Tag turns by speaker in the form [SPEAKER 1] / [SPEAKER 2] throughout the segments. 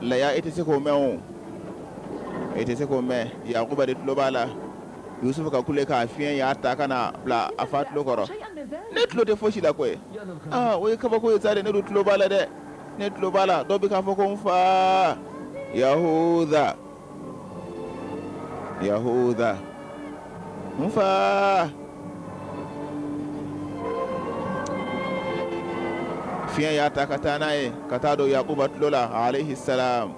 [SPEAKER 1] laya i tɛ se k'o mɛn o i tɛ se k'o mɛn yakuba de tulo b'a la yusufu ka kulekan fiɲɛ y'a ta ka n'a bila a fa tulo kɔrɔ ne tulo tɛ fosi la koyi aa o ye kabako ye sa dɛ ne dun tulo b'a la dɛ ne tulo b'a la dɔ bɛ k'a fɔ ko n fa yahuda yahuda n fa fiɲɛ y'a ta ka taa n'a ye ka taa don yakuba tulo la alayhi salam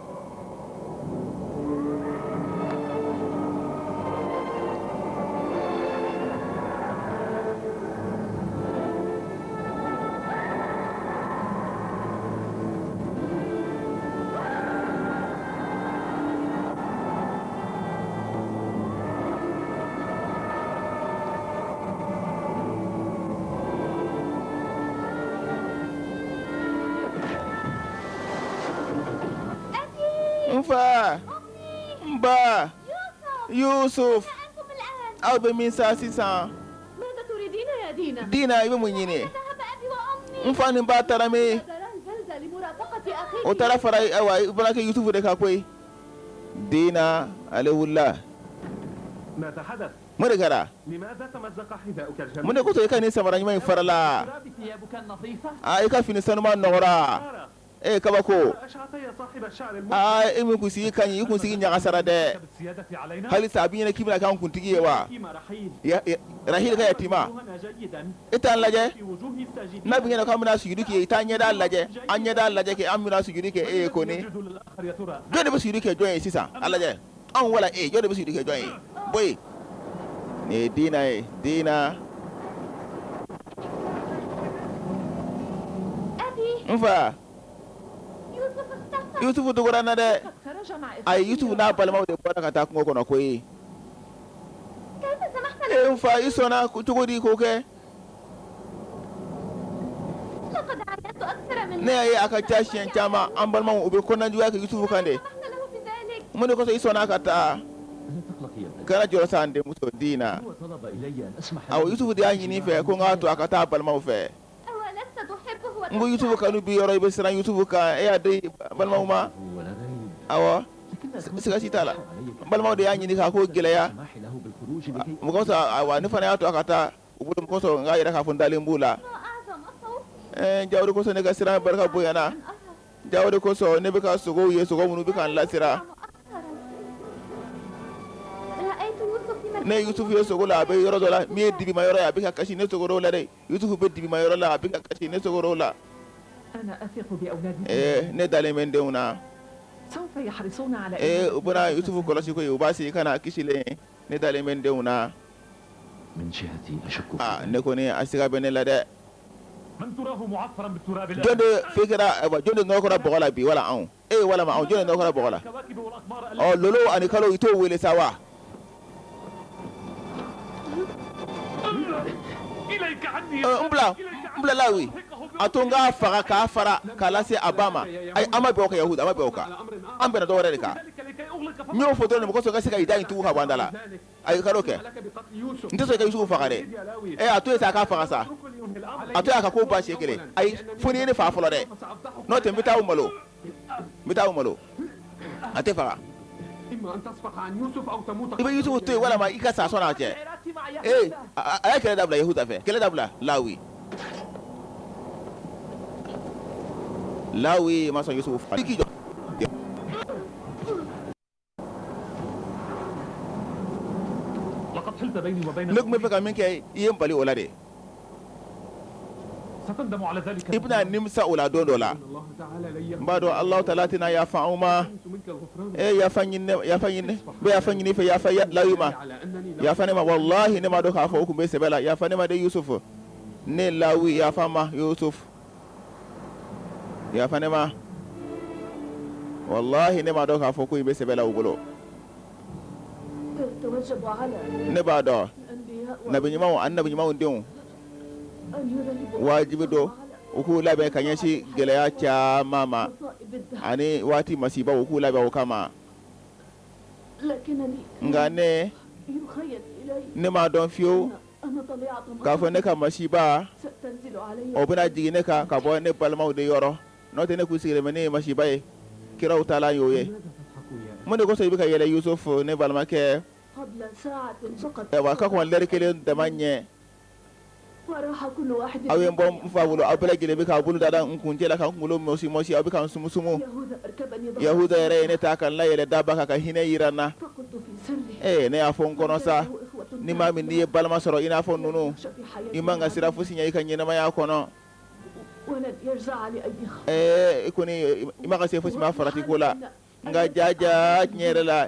[SPEAKER 1] N fa n ba Yusufu aw bɛ min sisan diina i bɛ mun ɲini ye n fa ni ba taara min u taara fara ayiwa i bɔra kɛ yusufu de ka koyi diina ale wulila mori kɛra mun de ko i ka nin samara ɲuman in farala i ka fini sanuman nɔgɔla ee kabako aa e min kunsigi ka ɲi i kunsigi ɲagasara dɛ hali sa a b'i ɲɛna k'i bɛna k'an kuntigi ye wa rahil ka yatima e t'an lajɛ n'a b'i ɲɛna k'an bɛna sujudi kɛ i t'an ɲɛda lajɛ an ɲɛda lajɛ kɛ an bɛna sujudi kɛ e ye koni jɔn de bɛ sujudi kɛ jɔn ye sisan a lajɛ anw wala e jɔn de bɛ sujudi kɛ jɔn ye bɔ yen nin ye diina ye diina n fa yusufu dogora n na dɛ ayi yusufu n'a balimaw de bɔra ka taa kungo kɔnɔ koyi e n fa i sɔnna cogo di k'o kɛ ne y'a ye a ka ca siɲɛ caman an balimaw u bɛ kɔnɔnajuguya kɛ Yusufu kan dɛ mun de kosɔn i sɔnna a ka taa kana jɔrɔ sa n denmuso Diina awɔ Yusufu de y'a ɲini i fɛ ko n k'a to a ka taa a balimaw fɛ n ko Yusufu kanu b'i yɔrɔ i bɛ siran Yusufu kan e y'a di balimaw ma awɔ siga si t'a la balimaw de y'a ɲini k'a ko gɛlɛya o kosɔn awa ne fana y'a to a ka taa u bolo kosɔn n k'a yira k'a fɔ n dalen b'u la jaa o de kosɔn ne ka siran barika bonyana jaa o de kosɔn ne bɛ ka sogow ye sogo minnu bɛ ka n lasiran n ye Yusufu ye sogo la a bɛ yɔrɔ dɔ la min ye dibima yɔrɔ ye a bɛ ka kasi ne sogo la dɛ Yusufu bɛ dibima yɔrɔ la a bɛ ka kasi ne sogorow la. Ana athiqu bi awladikum. Ee ne dalen bɛ n denw na. Sawfa yahrisuna ala imanihim. Ee u bɛna Yusufu kɔlɔsi koyi, u b'a segin ka na a kisilen. Ne dalen bɛ n denw na. Min jihati ashukku fi dhalik. Aa ne kɔni a siga bɛ ne la dɛ. Man turahu mu'affaran bi turabil ard. Jɔn de fɛn kɛra, ayiwa jɔn de nɔgɔra bɔgɔ la bi wala anw? e ye walima anw jɔn nɔgɔ bɔgɔ la ɔ lolo ani kalo i t'u wele sa wa n bila n bila lawi a to n k'a faga k'a fara k'a lase a ba ma ayi an ma bɛn o kan yahuda an ma bɛn o kan an bɛnna dɔ wɛrɛ de kan n y'o fɔ dɔrɔn de mɔgɔ tɔw ka se ka i da in tugu ka bɔ an da la a k'a dɔn k'a fɔ n tɛ sɔn ka Yusufu faga dɛ ɛ a to yen sa a k'a faga sa a to yen a k'a ko ban siɲɛ kelen ayi fo n'i ye ne faga fɔlɔ dɛ n'o tɛ n bɛ taa aw malo n bɛ taa aw malo a tɛ faga i bɛ Yusufu to yen walama i ka sa sɔn'a cɛ ee a ye kɛlɛ dabila Yahuda fɛ kɛlɛ dabila Lawi Lawi ma sɔn Yusufu faga ne tun b'a fɛ ka min kɛ i ye n bali o la dɛ i bɛna nimisa o la don dɔ la n b'a dɔn alahu ta'ala tɛna yafa anw ma e yafa yafa ɲini n fɛ yafa lawi ma yafa ne ma walahi ne m'a dɔn k'a fɔ u tun bɛ sɛbɛ la yafa ne ma dɛ yusufu ne lawi yafa n ma yafa ne ma walahi ne m'a dɔn k'a fɔ ko in bɛ sɛbɛ la u bolo ne b'a dɔn annabi ɲumanw denw wajibi don u k'u labɛn ka ɲɛsin gɛlɛya caman ma ani waati masiba u k'u labɛn u kama nka ne ne m'a dɔn fiyewu k'a fɔ ne ka masiba o bɛna jigin ne kan ka bɔ ne balimaw de yɔrɔ n'o tɛ ne kun sigilen bɛ ni masiba ye kiraw ta y'o ye mun de kosɔn i bɛ ka yɛlɛ yusufu ne balimakɛ ka kɔn lɛri kelen dama ɲɛ aw ye n bɔ n fa bolo aw bɛɛ kelen bɛ' bolo da n kun cɛla ka n kunkolo mɔsi aw bɛ ka n sumusumu yahuda yɛrɛ ye ne ta ka n la a yɛrɛ daba kan ka hinɛ jira n na ne y'a fɔ n kɔnɔ sa ni maa min n'i ye balima sɔrɔ i n'a fɔ ninnu i man kan ka siran fosi ɲɛ i ka ɲɛnamaya kɔnɔ i kɔni i man kan ka siran fosi ma farati ko la nka jaa jaa tiɲɛ yɛrɛ la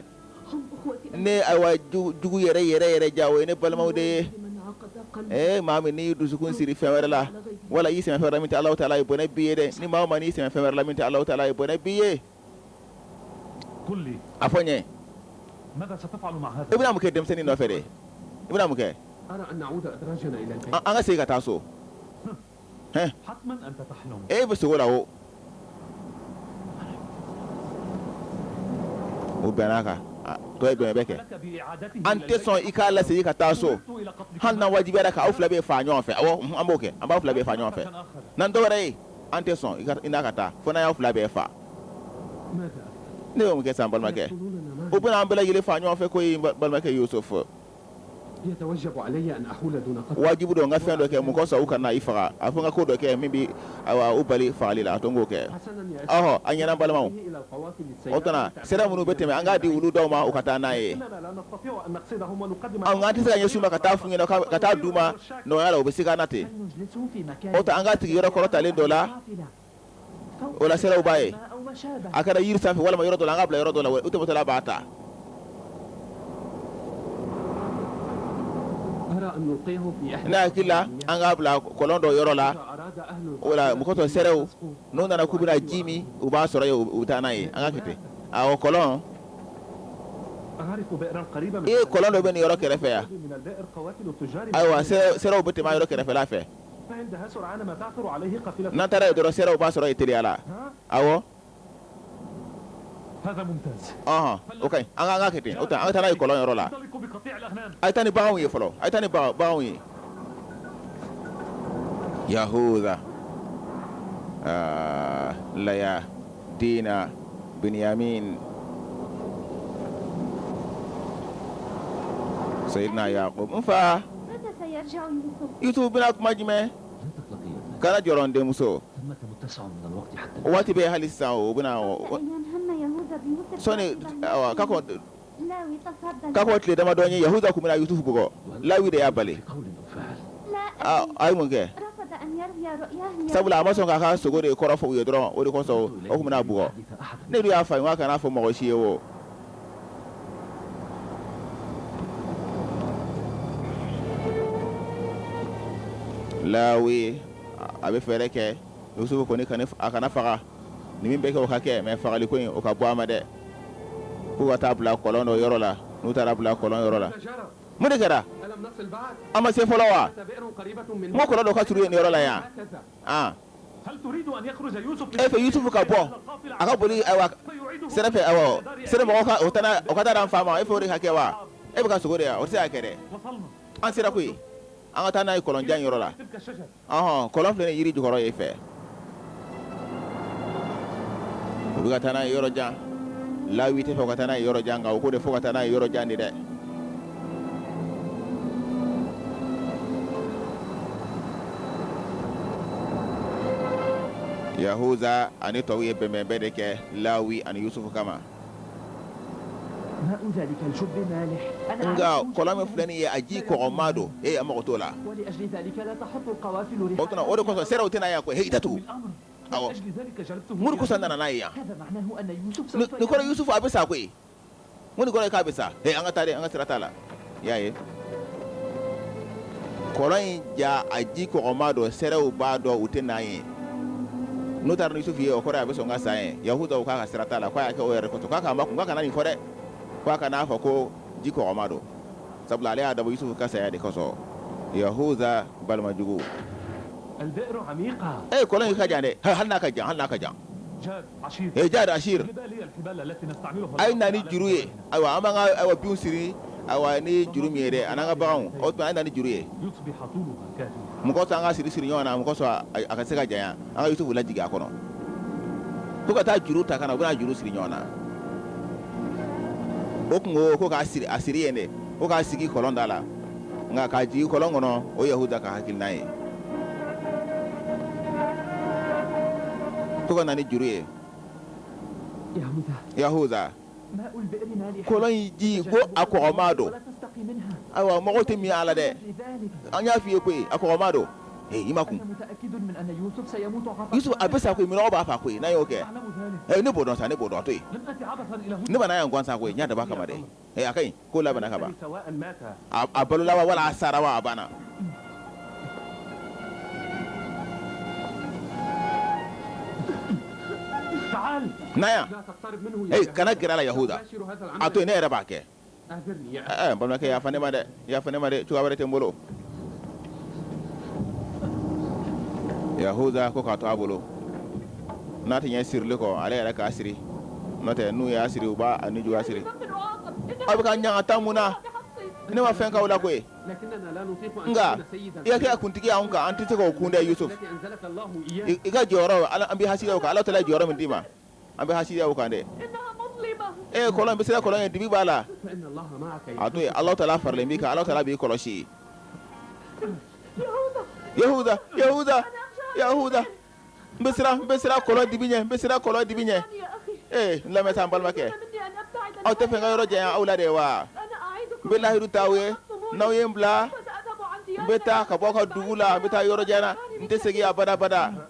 [SPEAKER 1] ne ayiwa jugu yɛrɛ yɛrɛ yɛrɛ jaa o ye ne balimaw de ye ɛ maa min n'i y'i dusukun siri fɛn wɛrɛ la wala i y'i sɛmɛ fɛn min tɛ alahu ta'ala ye bɔnɛ b'i ye dɛ ni maa mana i sɛmɛ fɛn wɛrɛ la min tɛ alahu ta'ala ye bɔnɛ b'i ye a fɔ n ye i bɛna mun kɛ denmisɛnnin nɔfɛ dɛ i bɛna mun kɛ an ka segin ka taa so e fɛ sugo la o o bɛn'a kan to bɛn bɛ kɛ an tɛ sɔn i k'a lasegin ka taa so hali n'a wajibi k'aw fila bɛɛ fa ɲɔgɔn fɛ awɔ an b'o kɛ an b'aw fila bɛɛ fa ɲɔgɔn fɛ n'an dɔwɛrɛ ye an tɛ sɔn i n'a ka taa fo n'an y'aw fila bɛɛ fa ne bɛ mun kɛ sa n balimakɛ u bɛna an bɛɛ lajɛlen fa ɲɔgɔn fɛ koyi n balimakɛ yusufu wajibi don n ka fɛn dɔ kɛ min kosɔn u kana i faga a fo n ka ko dɔ kɛ min bɛ u bali fagali la a to n k'o kɛ ɔɔ a ɲɛna n balimaw kana sira minnu bɛ tɛmɛ an k'a di olu dɔw ma u ka taa n'a ye an ka tɛ se ka ɲɛ k'a ta fu ka taa di u ma nɔgɔya la u bɛ se na ten o an k'a sigi yɔrɔ kɔrɔtalen dɔ la o sera b'a ye a kɛra yiri sanfɛ walima yɔrɔ dɔ an k'a bila yɔrɔ dɔ la u tɔgɔla b'a ta ne hakili la an k'a bila kɔlɔn dɔ yɔrɔ la wala mɔgɔtɔ sew n'o nana k'u bɛna ji min u b'a sɔrɔ u taa n'a ye an ka kɔlɔn i ye kɔlɔn dɔ bɛ nin yɔrɔ kɛrɛfɛ yan ayiwa sew bɛ tɛmɛ yɔrɔ kɛrɛfɛla fɛ n'a taara yen dɔrɔn sew b'a sɔrɔ i teliya la awɔ an k'a kɛ ten o an ka taa n'a ye kɔlɔn yɔrɔ la a taa ni baganw ye fɔlɔ a taa ni baganw ye yahuda la dina binyamin seyidina yakuba n fa yusufu bɛna kuma jumɛn kana jɔrɔ n denmuso waati bɛ hali sisan u bɛna sɔɔni ka Ka ko tile damadɔ ye yahuda tun bɛna yusufu bugɔ lawi de y'a bali aa a ye mun kɛ sabula a ma sɔn k'a ka sugo de kɔrɔ fɔ u ye dɔrɔn o de kosɔn u tun bɛn'a bugɔ ne dun y'a fɔ a ye k'a kan'a fɔ mɔgɔ si ye o lawi a bɛ fɛɛrɛ kɛ yusufu kɔni a kana faga Ni min bɛ kɛ u k'a kɛ mɛ fagali kɔni o ka bɔ a ma dɛ k'u ka taa bila kɔlɔn dɔ yɔrɔ la n'u taara bila kɔlɔn yɔrɔ la mun de kɛra an ma se fɔlɔ wa ma kɔlɔn dɔ ka surun yen yɔrɔ la yan e fɛ yusufu ka bɔ a ka boli sira fɛ o ka taa an fa ma e fɛ o de ka kɛ wa e fɛ a ka sugo de yan o se y'a kɛ an sera koyi an ka taa n'a ye kɔlɔnjan yɔrɔ la Ɔnhɔn, kɔlɔn filɛ nin ye jiri jukɔrɔ yen fɛ. U bɛ ka taa n'a ye yɔrɔ jan. Lawi t'a fɛ u ka taa n'a ye yɔrɔ jan, nka u ko de f'u ka taa n'a ye yɔrɔ jan de dɛ. Yahuza ani tɔw ye bɛnbɛnbɛn de kɛ Lawi ani Yusufu kama. nka kɔlɔn min filɛ nin ye a ji kɔgɔma don e an mako t'o la o tuma o de kosɔn sɛrɛw tɛ na yan koyi h datu mun de kosɔn an nana n'a ye yan nin kɔrɔ yusufu a bɛ sa koyi mun nin kɔrɔ ye k'a bɛ sa an ka taa an ka sira t'a la i y'a ye kɔlɔn in ja a ji kɔgɔma don sɛrɛw b'a dɔn u tɛ na yen n'u taara ni yusufu ye o kɔrɔ a bɛ sɔn ka sa yen yahuza k'a ka sira t'a la k'u y'a kɛ o yɛrɛ de kosɔn k'a k'a makun k'a kana nin fɔ dɛ k'a kan'a fɔ k'o ji kɔgɔma don sabula ale y'a dabɔ yusufu ka saya de kosɔn yahuza balima jugu ee kɔlɔn in ka jan dɛ hali n'a ka jan hali n'a ka jan jad asir a ye na ni juru ye ayiwa an ka bin siri ayiwa ni juru min ye an ka bagan a ye na ni juru ye mɔgɔ an ka siri siri ɲɔgɔn na mɔgɔ sɔrɔ a ka se ka janya an ka yusufu lajigin a kɔnɔ k'u ka taa juru ta ka na u bɛna juru siri ɲɔgɔn na o tun ko ko k'a siri a siri yen de ko k'a sigi kɔlɔn da la nka k'a jigin kɔlɔn kɔnɔ o yahuda ka hakilina ye u ka na ni juru ye yahuza kɔlɔn in ji ko a kɔgɔma don ayiwa mɔgɔ tɛ min a la dɛ an y'a f'i ye koyi a kɔgɔma don i makun yusufu a bɛ sa koyi minnɔgɔ b'a fa koyi n'a y'o kɛ ne b'o dɔn sa ne b'o dɔn to yen ne ma na yan gansan koyi n y'a da kama dɛ ɛ a ka ko labanna ka ban a balola wa wala a sara wa a banna na yan ee kana gɛrɛ a la yahuda a to yen ne yɛrɛ b'a kɛ balimakɛ yafa ne ma dɛ Yafa ne ma dɛ cogoya wɛrɛ tɛ n bolo Yahuza ko k'a to a bolo n'a tɛ ɲɛ sirili kɔ ale yɛrɛ k'a siri n'o tɛ n'u y'a siri u b'a nijuguya siri aw bɛ ka n ɲangata mun na ne ma fɛn k'aw la koyi nka i ka kɛ kuntigi anw kan an tɛ se k'o kun dɛ Yusuf i ka jɔyɔrɔ an b'i hasidiya o kan Alahu taala ye jɔyɔrɔ min d'i ma an bɛ haya kan dɛ e bɛ se kɔlɔn ye dibi b'a la a to ala taala faralen bɛ ala taala b'i kɔlɔsi yahuda yahuda yahuda n bɛ kɔlɔn dibi ɲɛ n bɛ siran kɔlɔn dibi ɲɛ ee n lamɛn an balimakɛ aw t'a fɛ n ka yɔrɔ janya aw la de wa n bɛ layidu ta aw ye n'aw ye n bila n bɛ taa ka bɔ aw ka dugu la n bɛ taa yɔrɔ jan n tɛ segin abada abada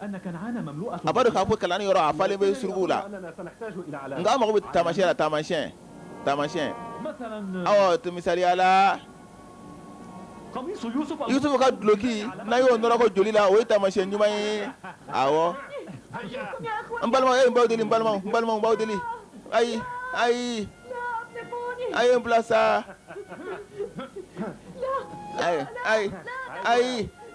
[SPEAKER 1] a b'a dɔn k'a fɔ kanaan yɔrɔ a falen bɛ surukuw la nka an mago bɛ taamasiɲɛ la taamasiɲɛ taamasiɲɛ awɔ to misali la yusufu ka duloki n'an y'o nɔrɔkɔ joli la o ye taamasiɲɛ ɲuman ye awɔ n balimaw e ye n b'aw deli n balimaw n balimaw n b'aw deli ayi ayi a ye n bila sa ayi ayi ayi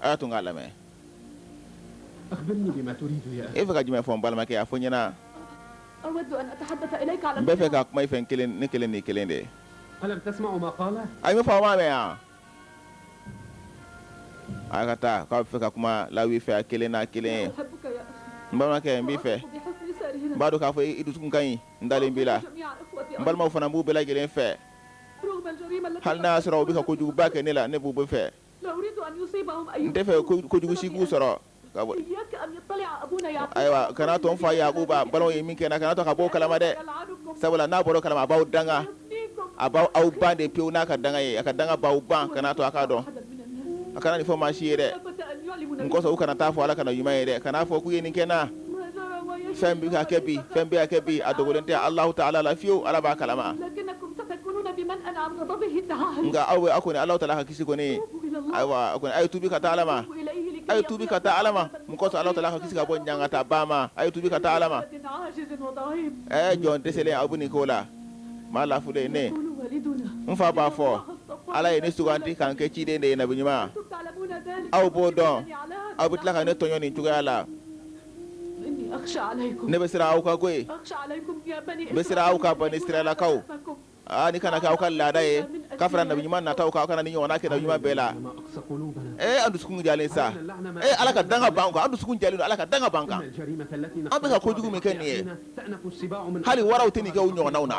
[SPEAKER 1] a y'a to n k'a lamɛn e fɛ ka jumɛn fɔ balimakɛ a fɔ n ɲɛna n bɛ fɛ ka kuma i fɛ n kelen ne kelen n'i kelen de a bɛ faama mɛn yan a ka taa k'a fɛ ka kuma lawi fɛ a kelen n'a kelen ye n balimakɛ n b'i fɛ n b'a dɔn k'a fɔ i dusukun ka ɲi n dalen b'i la n balimaw fana n b'u bɛɛ lajɛlen fɛ hali n'a sɔrɔ u bɛ ka kojuguba kɛ ne la ne b'u bɛɛ fɛ n tɛ fɛ ko- kojugu si k'u sɔrɔ ka bɔ- ayiwa kana to n fa yakuba balimaw ye min kɛ n na kana to ka b'o kalama dɛ sabula n'a bɔra o kalama a b'aw danga a b'aw aw ban de pewu n'a ka danga ye a ka danga b'aw ban kana to a k'a dɔn a kana nin fɔ maa si ye dɛ n kosɔn u kana taa fɔ ala ka nabiɲuman ye dɛ kana fɔ k'u ye nin kɛ n na fɛn bɛ ka kɛ bi fɛn bɛ ka kɛ bi a dogolen tɛ Alahu taala la fiyewu Ala b'a kalama nka aw bɛ aw kɔni Alahu taala ka kisi kɔni ayiwa a kɔni a ye tuubi ka taa Ala ma a ye tuubi ka taa Ala ma mun kosɔn Alahu taala k'aw kisi ka bɔ ɲangata ba ma a ye tuubi ka taa Ala ma ɛɛ jɔn dɛsɛlen aw bɛ nin ko la maa lafulen ne n fa b'a fɔ Ala ye ne suganti ka n kɛ ciden de ye nabiɲuman aw b'o dɔn aw bɛ tila ka ne tɔɲɔ nin cogoya la ne bɛ siran aw kan koyi n bɛ siran aw kan banisirayilakaw aa nin kana kɛ aw ka laada ye ka fara nabiɲuman nataw kan kana nin ɲɔgɔnna kɛ nabiɲuman bɛɛ la ee an dusukun jalen sa ee ala ka danga b'an kan an dusukun jalen ala ka danga b'an kan an bɛ ka kojugu min kɛ nin ye hali waraw tɛ nin kɛ u ɲɔgɔnw na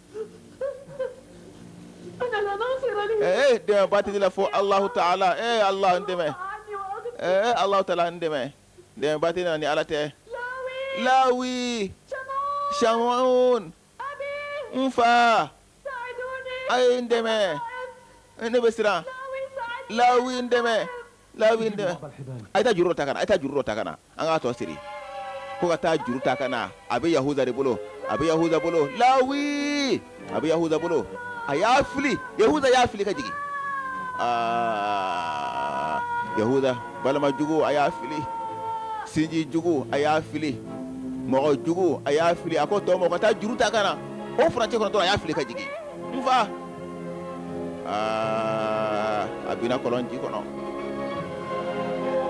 [SPEAKER 1] ee dɛmɛbaa tɛ ne la fo alahu taala ee ala n dɛmɛ ee alahu taala n dɛmɛ dɛmɛbaa tɛ ne na ni ala tɛ lawi samun n fa a ye n dɛmɛ ne bɛ siran lawi n dɛmɛ Lawi a taa juru ta a taa juru ta ka na an k'a tɔ siri ko ka taa juru ta ka na a bɛ yahuda de bolo a bɛ yahuda bolo lawi a bɛ yahuda bolo a y'a fili yahuda y'a fili ka jigin aa yahuda balimajugu a y'a fili sinjijugu a y'a fili mɔgɔjugu a y'a fili a ko tɔ mɔgɔ ka taa juru ta ka na o furancɛ la a y'a fili ka jigin aa a bina kɔlɔn ji kɔnɔ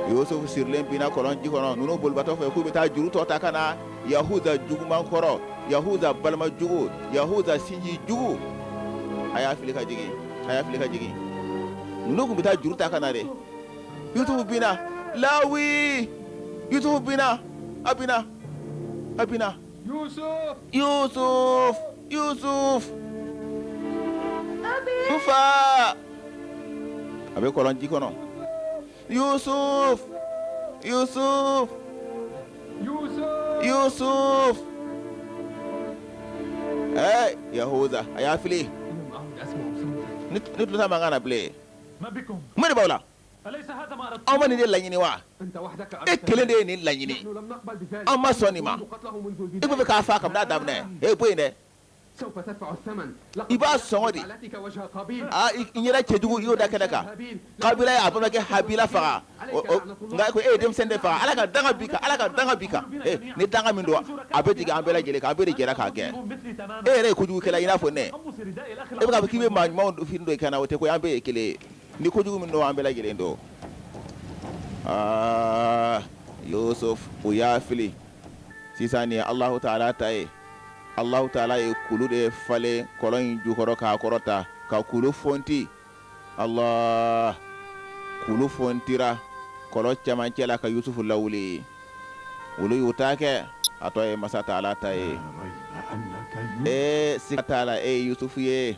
[SPEAKER 1] yusufu sirilen bina kɔlɔn ji kɔnɔ ninnu bolibatɔ fɛ k'u bɛ taa juru tɔ ta ka na yahuda juguman kɔrɔ yahuda balima jugu yahuda sinji jugu a y'a fili ka jigin a y'a fili ka jigin ninnu tun bɛ taa juru ta ka na dɛ yusufu bina lawi yusufu bina a bina a bina fa a bɛ kɔlɔnji kɔnɔ yusuf yahuda a y'a fili ne tun mankan bilen mori b' la An ma nin de laɲini wa e kelen de ye nin laɲini an ma sɔn nin ma e fɛ k'a faa kabini a daminɛ e bɔ yen dɛ i b'a sɔn de yɛrɛ cɛjugu y'o da kɛnɛ kan kabila a ye a balimakɛ habila faga nka ko e ye denmisɛn de faga ala ka danga b'i ala ka danga b'i kan ni danga min don a bɛ jigin an bɛɛ lajɛlen an bɛɛ jɛra k'a kɛ e yɛrɛ ye kojugu kɛla i n'a fɔ ne e fɛ ka kɛ maa ɲuman dufin don nka o tɛ ko an bɛɛ ye kelen ni ko jugu min don an bɛɛ lajɛlen don aa yusuf u y'a fili sisan nin ye alahu taala ta ye alahu taala ye kulu de falen kɔlɔn in jukɔrɔ k'a kɔrɔta ka kulu fonti allah kulu fontira kɔlɔn cɛmancɛ la ka yusufu lawuli olu y'u ta kɛ a tɔ ye masa taala ta ye ee siga t'a la e ye yusufu ye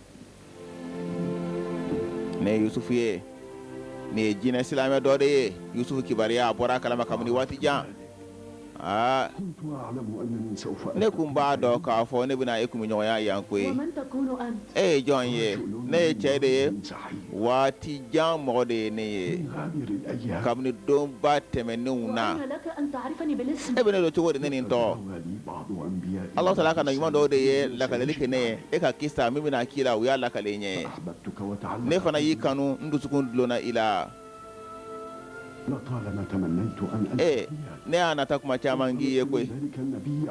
[SPEAKER 1] ne yusufu ye nin ye jinɛ silamɛ dɔ de ye yusufu kibaruya a bɔra a kalama kabini waati jan aa ne kun b'a dɔn k'a fɔ ne bɛna e kumaɲɔgɔnya yan ko ye e ye jɔn ye ne ye cɛ de ye waati jan mɔgɔ de ye ne ye kabini donba tɛmɛnenw na e bɛ ne dɔn cogo di ne ni n tɔgɔ Alahu taala ka nabi ɲuman dɔw de ye lakaleli kɛ ne ye e ka kisa min bɛna k'i la u y'a lakale n ye ne fana y'i kanu n dusukun dulonna i la ne y'a nata tuma caman n k'i ye koyi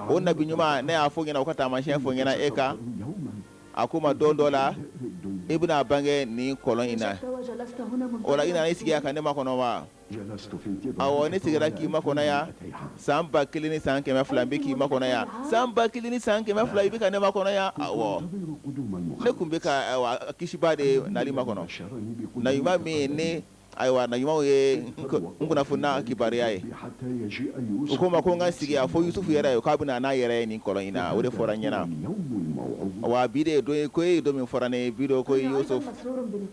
[SPEAKER 1] o nabi ɲuman ne y'a fɔ ɲɛna o ka taamasiyɛn fɔ ɲɛna e kan a ko n ma don dɔ la e bɛna a bange nin kɔlɔn in na o la i nana i sigi yan ka ne makɔnɔ wa ne sigira k'i makɔnɔ yan san ba kelen ni san kɛmɛ fila bɛ k'i makɔnɔ yan san ba kelen ni san kɛmɛ fila i bɛ ka ne makɔnɔ yan ne tun bɛ kisiba de nali makɔnɔ nabi ɲuman min ne ayiwa nabi ɲumanw ye n kunna' kibaruya ye u ko n ma ko n ka sigi yan fo yusufu yɛrɛ ye k'a bɛ n'a yɛrɛ ye nin kɔlɔn in na o de fɔra ɲɛna wa bi de ye don ko e ye don min fɔra ne bi ko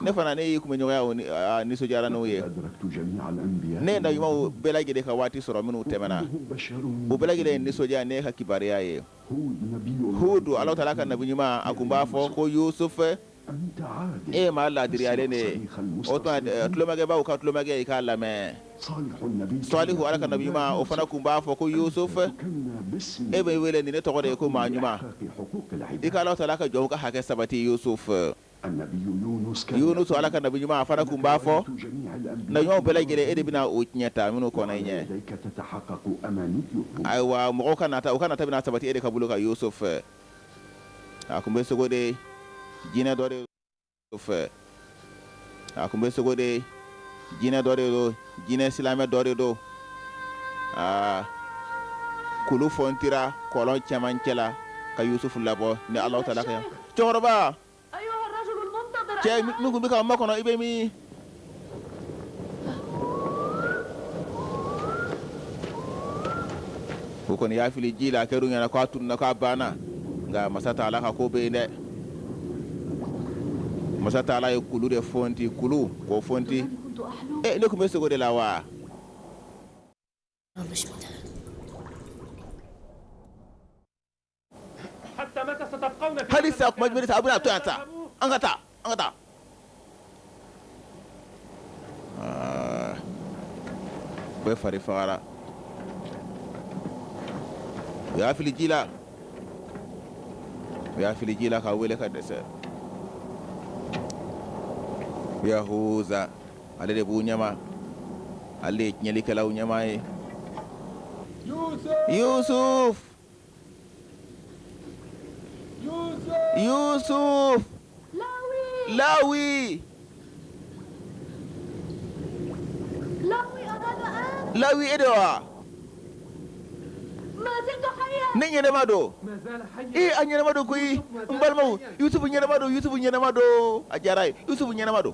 [SPEAKER 1] ne fana ne y'i tun bɛ ɲɔgɔnya nisɔndiyara n'o ye ne nabi ɲumanw bɛɛ lajɛlen ka waati sɔrɔ minnu tɛmɛna u bɛɛ lajɛlen nisɔndiyara n'e ka kibaruya ye hudu alahu taala ka nabi ɲuman a tun b'a fɔ ko yusufu e ma laadiyalen de ye an tulomajɔbagaw ka tulomajɔ a' k'a lamɛn sɔlihu ala ka nabi ɲuman o fana tun b'a fɔ ko yusufu e bɛ wele nin ne tɔgɔ de ye ko maa ɲuman i ka alahu taala ka jɔnw ka hakɛ sabati yusufu Yunus Ala ka nabi ɲuman a fana tun b'a fɔ nabi ɲumanw bɛɛ lajɛlen e de bɛna o tiɲɛ ta minnu kɔnna i ɲɛ ayiwa mɔgɔw ka nata u ka nata bɛna sabati e de ka bolo kan Yusufu a tun bɛ sogo de jinɛ dɔ de Yusufu a tun bɛ sogo de jinɛ dɔ de jinɛ silamɛ dɔ de don aa kulu funtira kɔlɔn cɛmancɛ la ka yusufu labɔ ni alahu taala ka cɛkɔrɔba cɛ min tun bɛ k'a makɔnɔ i bɛ min fɔ u kɔni y'a fili ji la a kɛra u ɲɛna k'a tununna k'a banna nka masa taala ka ko bɛ yen dɛ masa taala ye kulu de funti kulu ko funti ne tun bɛ sogo de la wa hali a bɛ taa an ka taa an ka taa bɛɛ fari fagara u y'a fili ji la u y'a fili ji la k'a wele ka dɛsɛ yahuza ale de b'u ɲɛma ale de ye tiɲɛlikɛlaw ɲɛmaa ye yusuf Yusufu lawi lawi e de wa ne ɲɛnama don ee a ɲɛnama don koyi n balimaw yusufu ɲɛnama don yusufu ɲɛnama don a diyara yusufu ɲɛnama don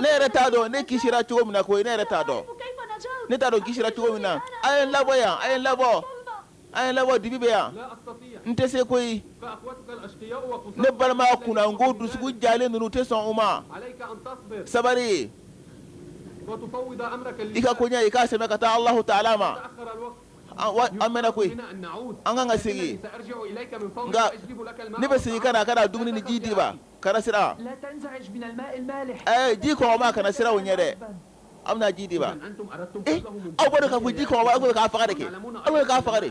[SPEAKER 1] ne yɛrɛ t'a dɔn ne kisira cogo min na koyi ne yɛrɛ t'a dɔn ne t'a dɔn kisira cogo min na a ye n labɔ yan a ye n labɔ a ye n labɔ dibi bɛ yan n tɛ se koyi ne balima kunnango dusukun jalen ninnu tɛ sɔn u ma sabari i ka koɲɛ i k'a sɛmɛ ka taa alahu taala ma an mɛnna koyi an kan ka segin nka ne bɛ segin ka na ka na dumuni ni ji d'i ma kana siran ji kɔgɔma kana siran u ɲɛ dɛ an bɛna ji d'i ma aw b'a dɔn k'a fɔ ji kɔgɔ aw b'a fɛ k'a faga de kɛ aw b'a fɛ k'a faga de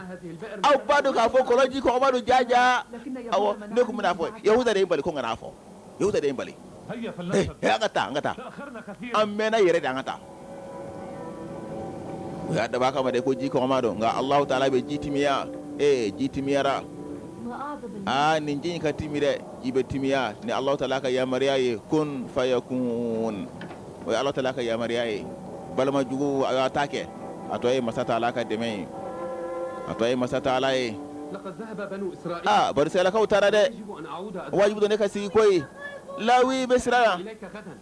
[SPEAKER 1] aw b'a dɔn k'a fɔ kɔlɔn ji kɔgɔma don ja ja awɔ ne tun bɛna a fɔ yahuda de ye n bali ko kana' fɔ yahuza de ye n bali an ka taa an ka taa an mɛnna yɛrɛ de an ka taa u y'a dabɔ a kama de ko ji kɔgɔma don nka alahu taala bɛ ji timiya ee ji timiyara aa nin ji in ka timi dɛ ji bɛ timiya ni alahu taala ka yamaruya ye kun fayakun o ye alahu taala ka yamaruya ye balima juguw y'u ta kɛ a tɔ ye masa taala ka dɛmɛ ye a tɔ ye masa taala ye aa bani israɛlakaw taara dɛ wajibi don ne ka sigi koyi lawi bɛ siran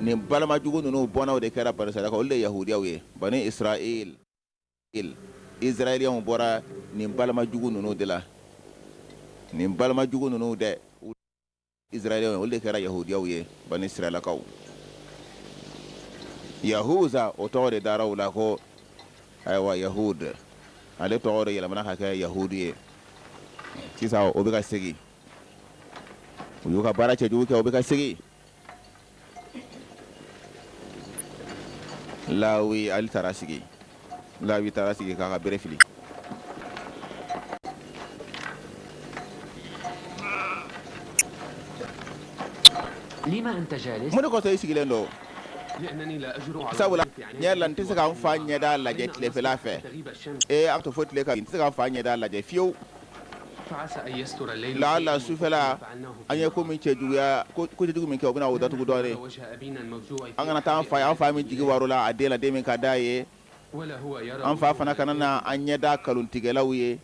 [SPEAKER 1] nin balima jugu ninnu bɔnnaw de kɛra Bani Israɛlakaw, olu de ye Yahudiyaw ye. Bani Israɛl, Israɛliɛnw bɔra nin balima jugu ninnu de la. Nin balima jugu ninnu dɛ, olu ye Israɛliɛnw ye, olu de kɛra Yahudiyaw ye, Bani Israɛlakaw. Yahuza, o tɔgɔ de dara u la ko, ayiwa, Yahud. Ale tɔgɔ de yɛlɛmana ka kɛ Yahudu ye. Sisan, o bɛ ka segin. U y'u ka baara cɛjugu kɛ, u bɛ ka segin. lawi ale taara sigi lawi taara sigi k'a ka bere fili mun de kosɔn i sigilen don sabula ɲɛ la n tɛ se ka n fa ɲɛda lajɛ tilefɛla fɛ ee a to fo tile ka n tɛ se ka n fa ɲɛda lajɛ fiyewu laala sufɛla an ye ko min cɛjuguya kojugu min kɛ u bɛna o daugu dɔ an kana taa fa an fa min jigi waarola a den la den min ka d'a ye an fa fana kana na an ɲɛda kalontigɛlaw ye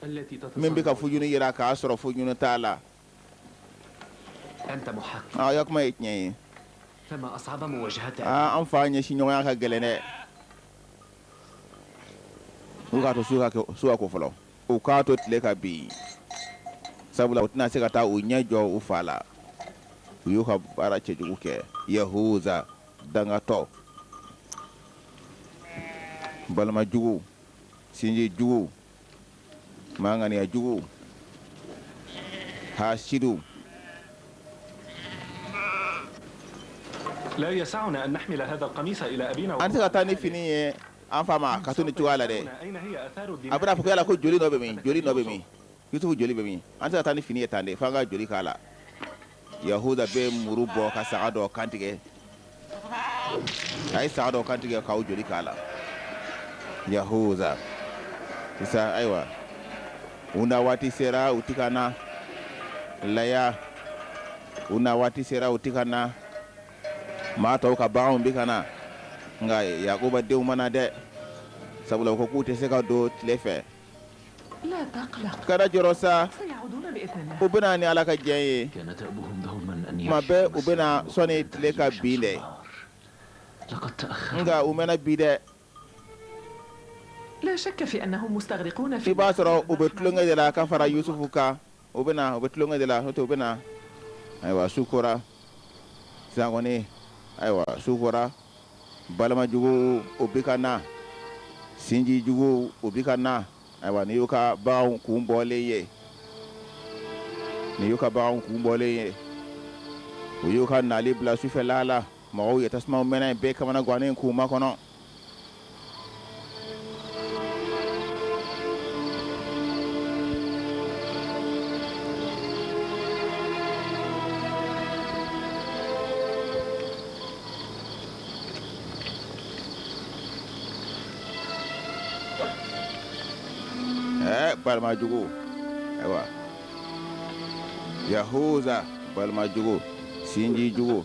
[SPEAKER 1] min bɛ ka fu ɲini jira k'a sɔrɔ fu ɲini t'a la ya kuma ye tiɲɛ ye an fa ɲɛsinɲɔgɔnya ka gɛlɛn dɛ u k'a to su ka ko fɔlɔ U k'a to tile ka bin sabula u tɛna se ka taa u ɲɛ jɔ u fa la u y'u ka baara cɛjugu kɛ yahuza dangatɔ balima jugu sinji jugu maa ŋaniya jugu hasidu an tɛ se ka taa ni fini ye An fa ma k'a to nin cogoya la dɛ a bɛna fɔ yala ko joli nɔ bɛ min joli nɔ bɛ min Yusufu joli bɛ min an tɛ taa ni fini ye tan dɛ fo an ka joli k'a la yahuza bɛ muru bɔ ka saga dɔ kantigɛ a ye saga dɔ kantigɛ k'o joli k'a la yahuza sisan ayiwa u na waati sera u ti ka na laya u na waati sera u ti ka na Maa tɔw ka baganw bɛ ka na, nka Yakuba denw ma na dɛ, sabula u ko k'u tɛ se ka don tile fɛ. Kana jɔrɔ sa, u bɛ na ni Ala ka jɛn ye, tuma bɛɛ u bɛ na sɔni tile ka bin dɛ, nka u mɛnna bi dɛ. i b'a sɔrɔ u bɛ tulonkɛ de la ka fara Yusufu kan u bɛ na u bɛ tulonkɛ de la n'o tɛ u bɛ na ayiwa su kora sisan kɔni ayiwa su kora balima juguw u bi ka na sinji juguw u bi ka na ayiwa nin y'u ka baganw kun bɔlen ye nin y'u ka baganw kun bɔlen ye u y'u ka nali bila sufɛla la Mɔgɔw ye tasuma mɛnɛ a bɛɛ kamanagannen k'u makɔnɔ balimajugu ayiwa yahuza balimajugu sinjijugu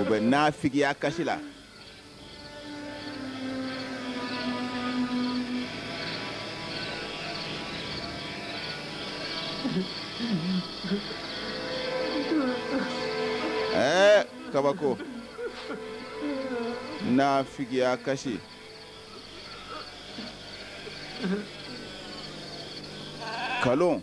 [SPEAKER 1] u bɛ nafigiya kasi la ɛɛ kabako nafigiya kasi kalon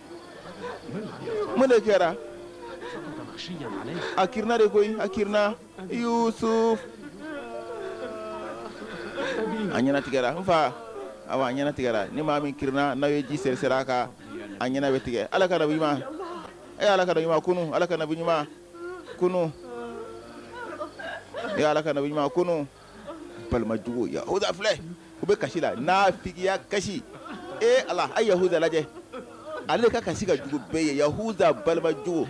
[SPEAKER 1] mun de kɛra a kirinna de koyi a kirinna yusuf a ɲɛnatigɛra n fa awa a ɲɛnatigɛra ni maa min kirinna n'aw ye ji seriseri a kan a ɲɛna bɛ tigɛ ala ka nabi ɲuman e ala ka nabi ɲuman kunun ala ka nabi ɲuman kunun e ala ka nabi ɲuman kunun balimajugu yahuza filɛ u bɛ kasi la nafigiya kasi ee ala a yahuza lajɛ ale ka kasi ka jugu bɛɛ ye yahuza balimajugu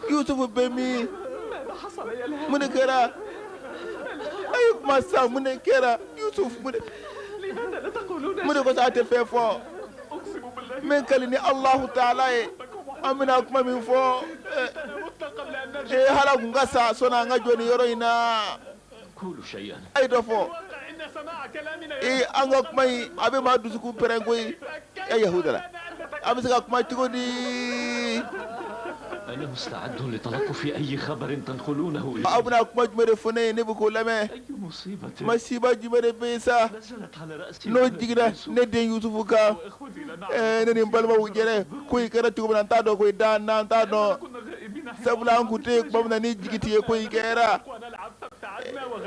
[SPEAKER 1] yusufu bɛ min mun de kɛra a ye kuma sa mun de kɛra yusufu mun de mun de ko sa a tɛ fɛn fɔ n bɛ n kali ni alahu taala ye an bɛna kuma min fɔ ee hali an tun ka sa sɔnni an ka jɔ nin yɔrɔ in na a ye dɔ fɔ ee an ka kuma in a bɛ maa dusukun pɛrɛn koyi e Yahuda an bɛ se ka kuma cogo di aw bɛna kuma jumɛn de fɔ ne ye ne bɛ k'o lamɛn masiba jumɛn de bɛ yen sa n'o jiginna ne den Yusufu kan ɛɛ ne ni n balimaw jɛra ko in kɛra cogo min na an t'a dɔn koyi dan n'an t'a dɔn sabula an tun tɛ yen tuma min na ni jigitigɛko in kɛra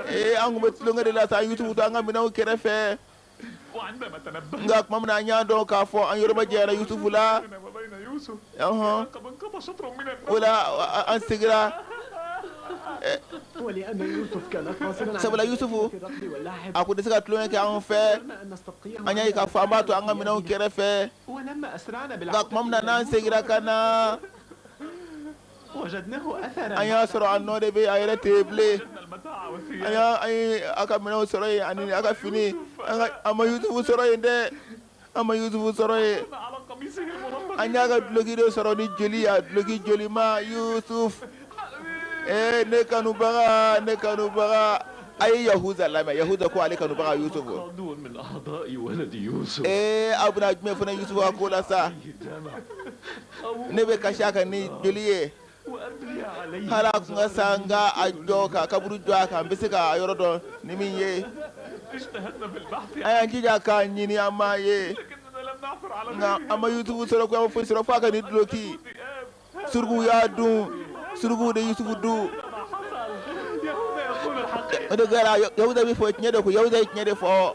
[SPEAKER 1] ee an tun bɛ tulonkɛ de la sa Yusufu to an ka minɛnw kɛrɛfɛ nka tuma min na an y'a dɔn k'a fɔ an yɔrɔ majanyara Yusufu la ɔhɔn o la an segira sabula Yusufu a tun tɛ se ka tulonkɛ kɛ anw fɛ an y'a ye k'a fɔ an b'a to an ka minɛnw kɛrɛfɛ nka tuma min na n'an segira ka na an y'a sɔrɔ a nɔ de bɛ a yɛrɛ tɛ bilen an y'a an ye a ka minɛnw sɔrɔ yen ani a ka fini nka an ma Yusufu sɔrɔ yen dɛ an ma Yusufu sɔrɔ yen an y'a ka duloki de sɔrɔ ni joli ye a duloki jolima Yusufu ee ne kanubaga ne kanubaga a ye Yahuza lamɛn Yahuza ko ale kanubaga Yusufu ee aw bɛna jumɛn fana Yusufu ka ko la sa ne bɛ kasi a kan ni joli ye hali a tun ka sa n ka a jɔ ka kaburu jɔ a kan n bɛ se ka a yɔrɔ dɔn ni min ye an y'an jija k'a ɲini an m'a ye nka an ma yusufu sɔrɔ ko an ma foyi sɔrɔ f'a ka nin duloki surukuw y'a dun surukuw de ye yusufu dun o de kɛra yahuda bɛ fɔ tiɲɛ de ko yahuda ye tiɲɛ de fɔ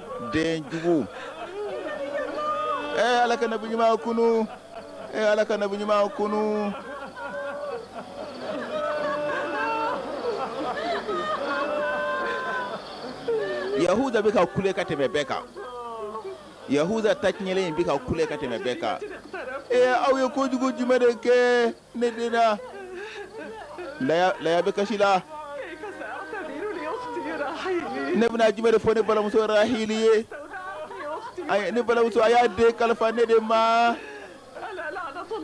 [SPEAKER 1] den jugu ee ala ka nabi ɲuman kunu ee ala ka nabi ɲuman kunu yahuda bɛ ka kule ka tɛmɛ bɛɛ kan yahuda taɲɛlen in bɛ ka kule ka tɛmɛ bɛɛ kan ee aw ye kojugu jumɛn de kɛ ne den ee leya bɛ kasi la ne bɛna jumɛn de fɔ ne balimamuso rahili ye ne balimamuso a y'a den kalifa ne de ma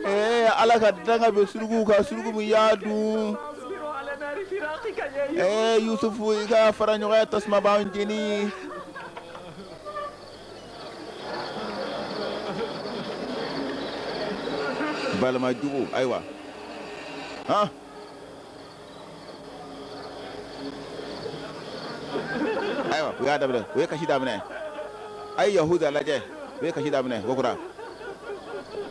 [SPEAKER 1] ee ala ka danga bɛ suruku kan suruku min y'a dun ɛɛ yusufu i ka faraɲɔgɔnya tasuma bɛ n jeni balima jugu ayiwa han ayiwa u y'a daminɛ u ye kasi daminɛ a ye yahuda lajɛ u ye kasi daminɛ kokura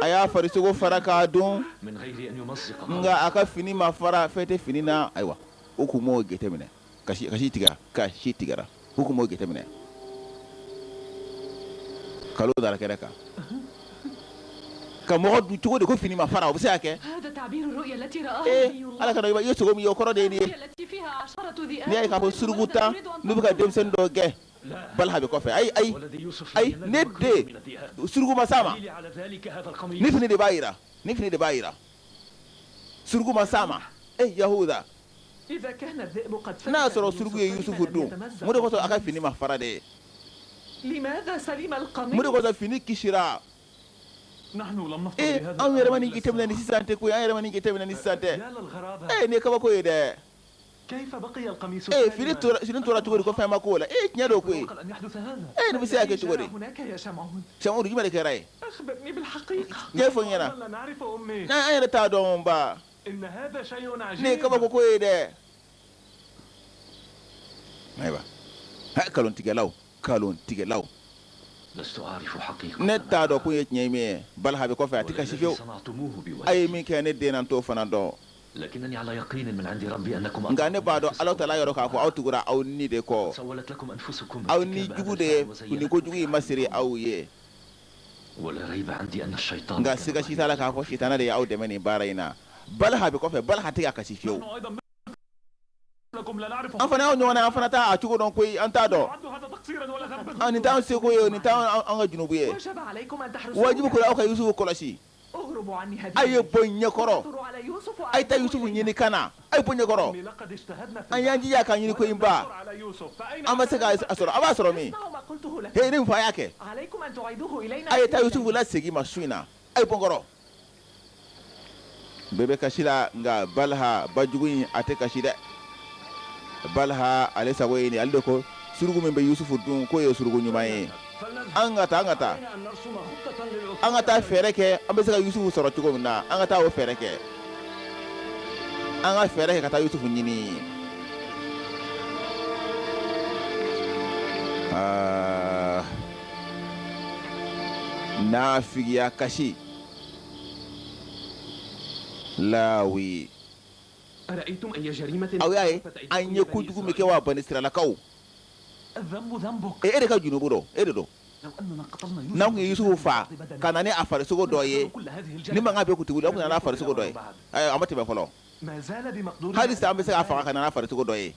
[SPEAKER 1] a y'a farisogo fara k'a dɔn nka a ka fini ma fara fɛn tɛ fini na ayiwa u tun b'o jateminɛ kasi kasi tigɛ ka si tigɛ u tun b'o jateminɛ kalon da kɛra kan ka mɔgɔ dun cogo di ko fini ma fara o bɛ se ka kɛ ala i ye sogo min o kɔrɔ de ye ye ka suruku tan n'u bɛ ka denmisɛnnin dɔw gɛn balaha bɛ kɔfɛ ayi ayi ayi ne den suruku ma s'a ma nin fini de b'a jira nin fini de b'a jira suruku ma s'a ma e eh, yahuda n'a y'a sɔrɔ suruku ye yusufu dun mun de kosɔn a ka fini ma fara dɛ mun de kosɔn fini kisira ee eh, anw yɛrɛ ma nin jateminɛ ni sisan tɛ koyi an yɛrɛ ma nin jateminɛ ni sisan tɛ ee eh, nin ye kabako ye dɛ ee fini tora fini tora cogo di ko fɛn ma k'o la ee tiɲɛ don koyi ee nin bɛ se ka kɛ cogo di Samuun jumɛn de kɛra yen ɲɛfɔ n ɲɛna an yɛrɛ t'a dɔn ba nin ye kabako ko ye dɛ ayiwa kalontigɛlaw kalontigɛlaw ne t'a dɔn ko ye tiɲɛ min ye balaha bɛ kɔfɛ a tɛ kasi fiyewu a ye min kɛ ne den na n t'o fana dɔn Nka ne b'a dɔn alahu tala yɔrɔ k'a fɔ aw tugura aw ni de kɔ aw ni jugu de ye ko jugu in masiri aw ye nka siga si t'a la k'a fɔ sitanɛ de ye aw dɛmɛ nin baara in na baliha bɛ kɔfɛ baliha tɛ ka kasi fiyewu An fana y'aw ɲɔgɔn ye an fana t'a cogo dɔn koyi an t'a dɔn nin t'an seko ye nin t'an ka junubu ye wajibu kun don aw ka yusufu kɔlɔsi aw ye bɔ n ɲɛkɔrɔ a ye taa yusufu ɲini ka na aw ye bɔ n kɔrɔ an y'an jija k'a ɲini koyi baa an ma se k'a sɔrɔ a b'a sɔrɔ min ne fa y'a kɛ a ye taa yusufu lasegin n ma su in na aw ye bɔ n kɔrɔ bɛɛ bɛ kasi la nka baliha bajugu in a tɛ kasi dɛ baliha ale sago ye nin ale de ko suruku min bɛ yusufu dun k'o ye suruku ɲuman ye an ka taa an ka taa an ka taa fɛɛrɛ kɛ an bɛ se ka yusufu sɔrɔ cogo min na an ka taa o fɛɛrɛ kɛ an ka fɛɛrɛ kɛ ka taa yusufu ɲini aa naafigiya kasi lawi aw y'a ye an ye ko jugu min kɛ wa bani isiralakaw e e de ka junubu don e de don n'an tun ye yusufu faa ka na n'a farisogo dɔ ye nin mankan bɛɛ kun tɛ bila an na a farisogo dɔ ye a ma tɛmɛ fɔlɔ hali sisan an bɛ se k'a faga ka na n'a farisogo dɔ ye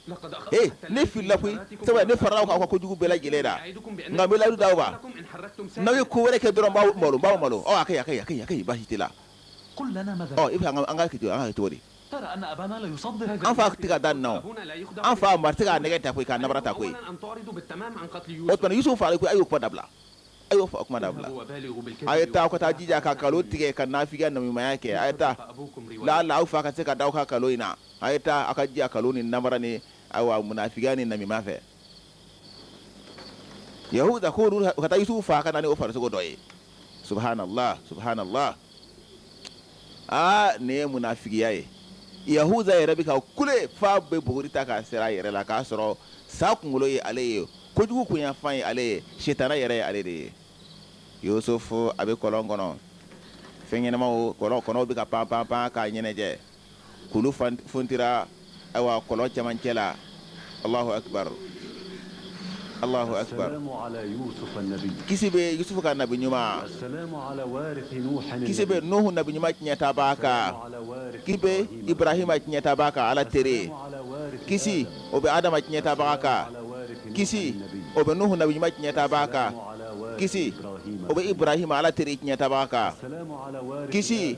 [SPEAKER 1] ne filɛ koyi ne fara aw kan ka kojugu bɛɛ lajɛlen la nka n bɛ layidu ta aw fɛ n'aw ye ko wɛrɛ kɛ dɔrɔn n b'aw malo la i an k'a kɛ cogo di an fa tɛ ka da an na an fa nɛgɛ ta koyi ka ta koyi fa a y'o kuma dabila a y'o faa kuma dabila a ye taa ka taa jija ka nkalon tigɛ ka naafigiya namimaya kɛ a ye taa laala aw fa ka se ka da aw ka nkalon in na a ye taa aw ka jija nkalon ni namara ni ayiwa munafigiya ni namima fɛ yahuza ko u ka taa yusufu faa ka na n'o farisogo dɔ ye subuhanalahi subuhanalahi aa nin ye munafigiya ye yahuza yɛrɛ bɛ ka kule f'a bɛ buguri ta k'a seri a yɛrɛ la k'a sɔrɔ sa kunkolo ye ale ye kojugu kunyanfan ye ale ye sitana yɛrɛ ye ale de ye yusufu a bɛ kɔlɔn kɔnɔ fɛn ɲɛnamaw kɔlɔn kɔnɔw bɛ ka pan pan pan k'a ɲɛnajɛ kulu funtira ayiwa kɔlɔn cɛmancɛ la alahu akibaru alahu akibaru kisi bɛ yusufu kan nabi ɲuman kisi bɛ nuhu nabi ɲuman tiɲɛtabaa kan kisi bɛ ibrahima tiɲɛtabaa kan ala teri kisi o bɛ adama tiɲɛtabaa kan kisi o bɛ nuhu nabi ɲuman tiɲɛtabaa kan kisi o bɛ ibrahima ala teri tiɲɛtabaa kan kisi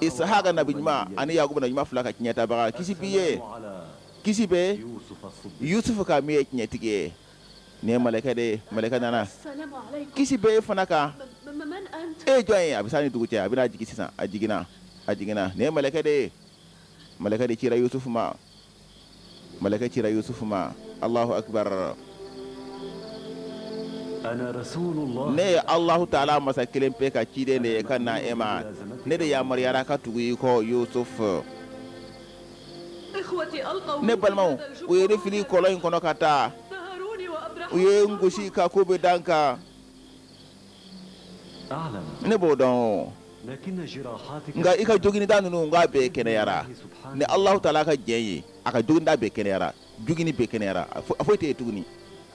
[SPEAKER 1] isihaka nabi ɲuman ani yakuba nabi ɲuman fila ka tiɲɛtabaga kisi b'i ye kisi bɛ yusufu kan min ye tiɲɛtigi ye nin ye mɛlɛkɛ de mɛlɛkɛ nana kisi bɛ e fana kan e jɔn ye a bɛ san ni dugu cɛ a bɛna jigin sisan a jiginna a jiginna nin ye mɛlɛkɛ de ye mɛlɛkɛ de cira yusufu ma Mɛlɛkɛ cira Yusufu ma, Alahu akibaru. Ne ye Alahu taala masa kelen pe ka ciden de ye ka na e ma, ne de yamaruyara ka tugu i kɔ Yusufu. Ne balimaw, u ye ne fili kɔlɔn in kɔnɔ ka taa, u ye n gosi ka ko bɛɛ da n kan. ne b'o dɔn o nka i ka joginda ninnu k'a bɛɛ kɛnɛyara ni Alahu taala ka jɛn ye a ka joginda bɛɛ kɛnɛyara jogini bɛɛ kɛnɛyara a foyi tɛ yen tuguni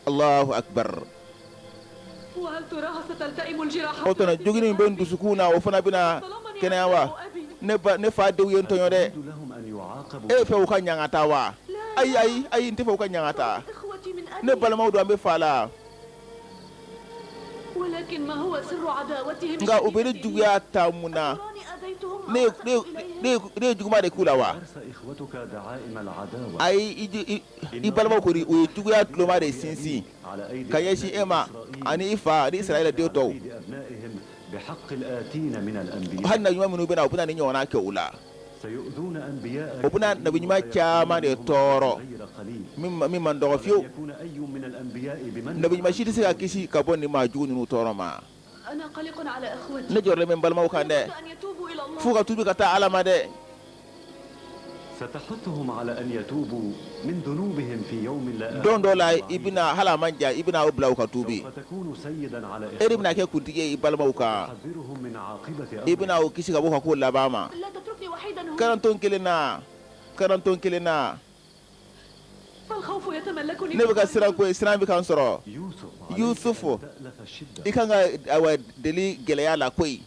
[SPEAKER 1] Alahu akbar o tuma jogini min bɛ n dusukun na o fana bɛna kɛnɛya wa ne ba ne fa denw ye n tɔɲɔ dɛ e bɛ fɛ u ka ɲangata wa ayi ayi ayi n tɛ fɛ u ka ɲangata ne balimaw don an bɛ fa la nka u bɛ ne juguya ta mun na ne ye juguman de k'u la wa ayi i balimaw ye juguya tuloma de sinsin ka ɲɛsin e ma ani i fa ani isirayila den tɔw hali nabi ɲuman minnu bɛna u bɛna nin ɲɔgɔnna kɛ u la u bɛna nabi ɲuman caman de tɔɔrɔ min man dɔgɔ fiyewu nabi ɲuman si tɛ se ka kisi ka bɔ nin maa jugu ninnu tɔɔrɔ ma ne jɔrɔlen bɛ n balimaw kan dɛ fo u ka tubi ka taa ala ma dɛ don dɔ la i bɛna hali a man jan i bɛna u bila u ka tubi e de bɛna kɛ kuntigi ye i balimaw kan i bɛna u kisi ka bɔ ka ko laban ma garanto kelen na garanto kelen na ne bɛ ka siran ko siran bɛ ka n sɔrɔ yusufu i ka kan ka deli gɛlɛya la koyi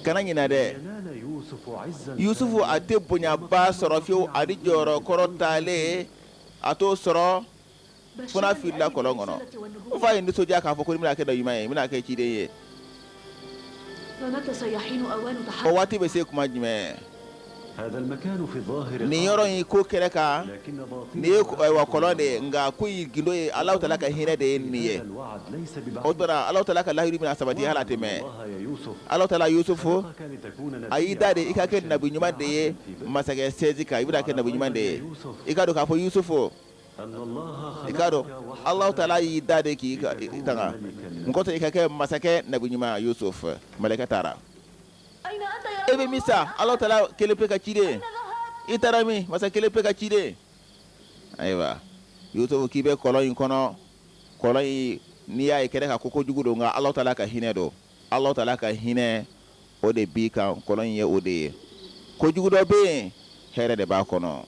[SPEAKER 1] kana ɲinɛ dɛ yusufu a tɛ bonyaba sɔrɔ fiyewu ani jɔyɔrɔ kɔrɔtalen a t'o sɔrɔ fana n filila kɔlɔn kɔnɔ n fa ye n nisɔndiya k'a fɔ ko ne bɛna kɛ nabi ɲuman ye n bɛna kɛ ciden ye o waati bɛ se tuma jumɛn nin yɔrɔ in ko kɛnɛ kan nin ye wa kɔlɔn de ye nka ko in gundo ye ala tala ka hinɛ de ye nin ye o tora ala tala ka layidu bɛna sabati ala tɛ mɛn ala tala yusufu a y'i dan de i ka kɛ nabi ɲuman de ye masakɛ sɛji kan i bɛna kɛ nabi ɲuman de ye i k'a dɔn k'a fɔ yusufu i k'a dɔn ala tala y'i dan de k'i tanga n kotɛ i ka kɛ masakɛ nabi ɲuman yusufu mɛlɛkɛ taara e bɛ min sa ala tala kelen pe ka ci ye i taara min masa kelen pe ka ci ye ayiwa yusufu k'i bɛ kɔlɔn in kɔnɔ kɔlɔn in n'i y'a ye kɛnɛ kan ko ko jugu don nka ala tala ka hinɛ don ala tala ka hinɛ o de b'i kan kɔlɔn in ye o de ye ko jugu dɔ bɛ yen hɛrɛ de b'a kɔnɔ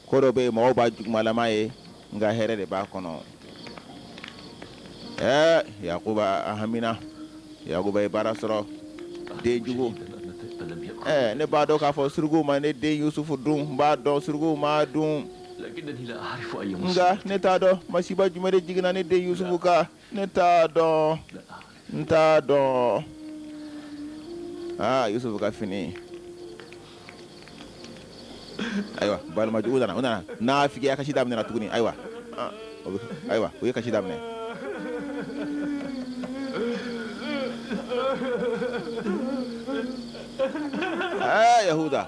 [SPEAKER 1] Ko dɔ bɛ yen mɔgɔw b'a jugumalama ye nka hɛrɛ de b'a kɔnɔ ɛɛ yakuba a hamina yakuba ye baara sɔrɔ den jugu ɛɛ ne b'a dɔn k'a fɔ suruguw ma ne den yusufu dun n b'a dɔn suruguw m'a dun nka ne t'a dɔn masiba jumɛn de jiginna ne den yusufu kan ne t'a dɔn n t'a dɔn aa yusufu ka fini ayiwa balima jugu nana o nana nafigiya kasi daminɛna tuguni ayiwa ayiwa o ye kasi daminɛ yahuda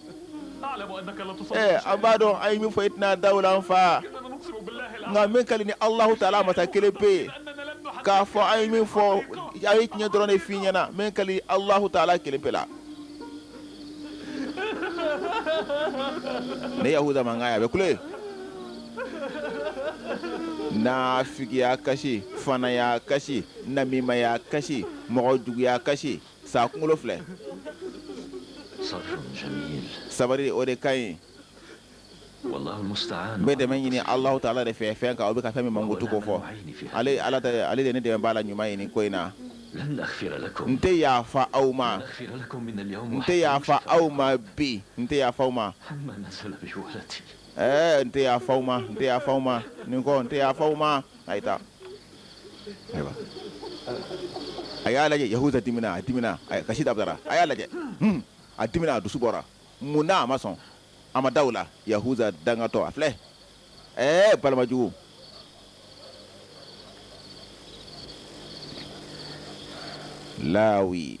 [SPEAKER 1] an b'a dɔn an ye min fɔ i tɛna da o la an fa nka n bɛ n kali alahu tala masa kelen pe ye k'a fɔ an ye min fɔ an ye tiɲɛ dɔrɔn de fɔ i ɲɛna n bɛ n kali alahu tala kelen pe la ne yahuda mankanya a bɛ kule nafigiya kasi fanaya kasi namimaya kasi mɔgɔ juguya kasi Sa kunkolo filɛ sabari o de ka ɲi n bɛ dɛmɛ ɲini ala tala de fɛ fɛn kan aw bɛ ka fɛn min mankutu ko fo ale ala ale de ne dɛmɛbaa ɲuman ye nin ko in na n tɛ yaafa aw ma n tɛ yaafa aw ma bi n tɛ yaafa aw ma ɛɛ n tɛ yaafa aw ma n tɛ yaafa aw ma nin ko n tɛ yaafa aw ma a a y'a lajɛ yahuda dimina a dimina kasi dabila a y'a lajɛ hmm. a dimina a dusu bɔra mun na a ma sɔn a ma da u la yahuda dangatɔ a filɛ ɛɛ balima jugu lawi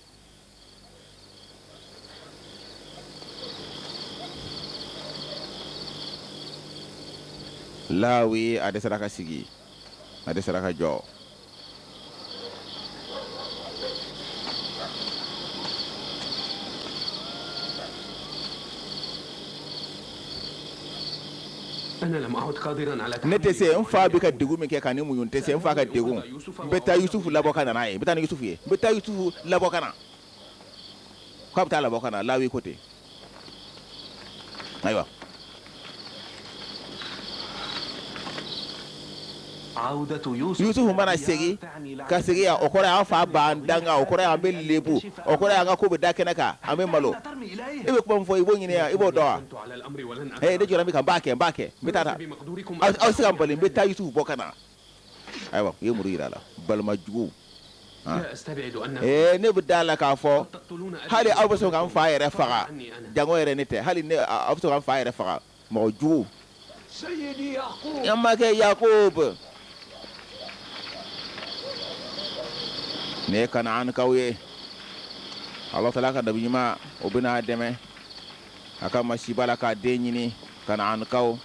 [SPEAKER 1] lawi a dɛsɛra ka sigi a dɛsɛra ka jɔ ne tɛ se n fa bɛ ka dɛgun min kɛ ka o muɲu n tɛ se n fa ka dɛgun n bɛ taa yusufu labɔ ka na n'a ye n bɛ taa ni yusufu ye n bɛ taa yusufu labɔ ka na n bɛ taa a labɔ ka na la ko ten ayiwa Yusufu mana segin ka segin o kɔrɔ y'an fa b'an danga o kɔrɔ y'an bɛ lebu o kɔrɔ y'an ka ko bɛ da kɛnɛ kan an bɛ malo i bɛ kuma min fɔ i b'o ɲini i b'o dɔn ne jɔra min kan n b'a kɛ n b'a kɛ n bɛ aw se ka n bali n bɛ taa yusufu bɔ ka na ayiwa i ye muru jira a la balimajugu ne bɛ da a la k'a fɔ hali aw bɛ sɔn k'an fa yɛrɛ faga janko yɛrɛ ne tɛ hali aw bɛ sɔn k'an fa yɛrɛ faga Mɔgɔ jugu an makɛ yakubu ne kanaankaw ye ala taala ka nabi ɲuman u bɛna a dɛmɛ a ka masiba la k'a den ɲini kanaankaw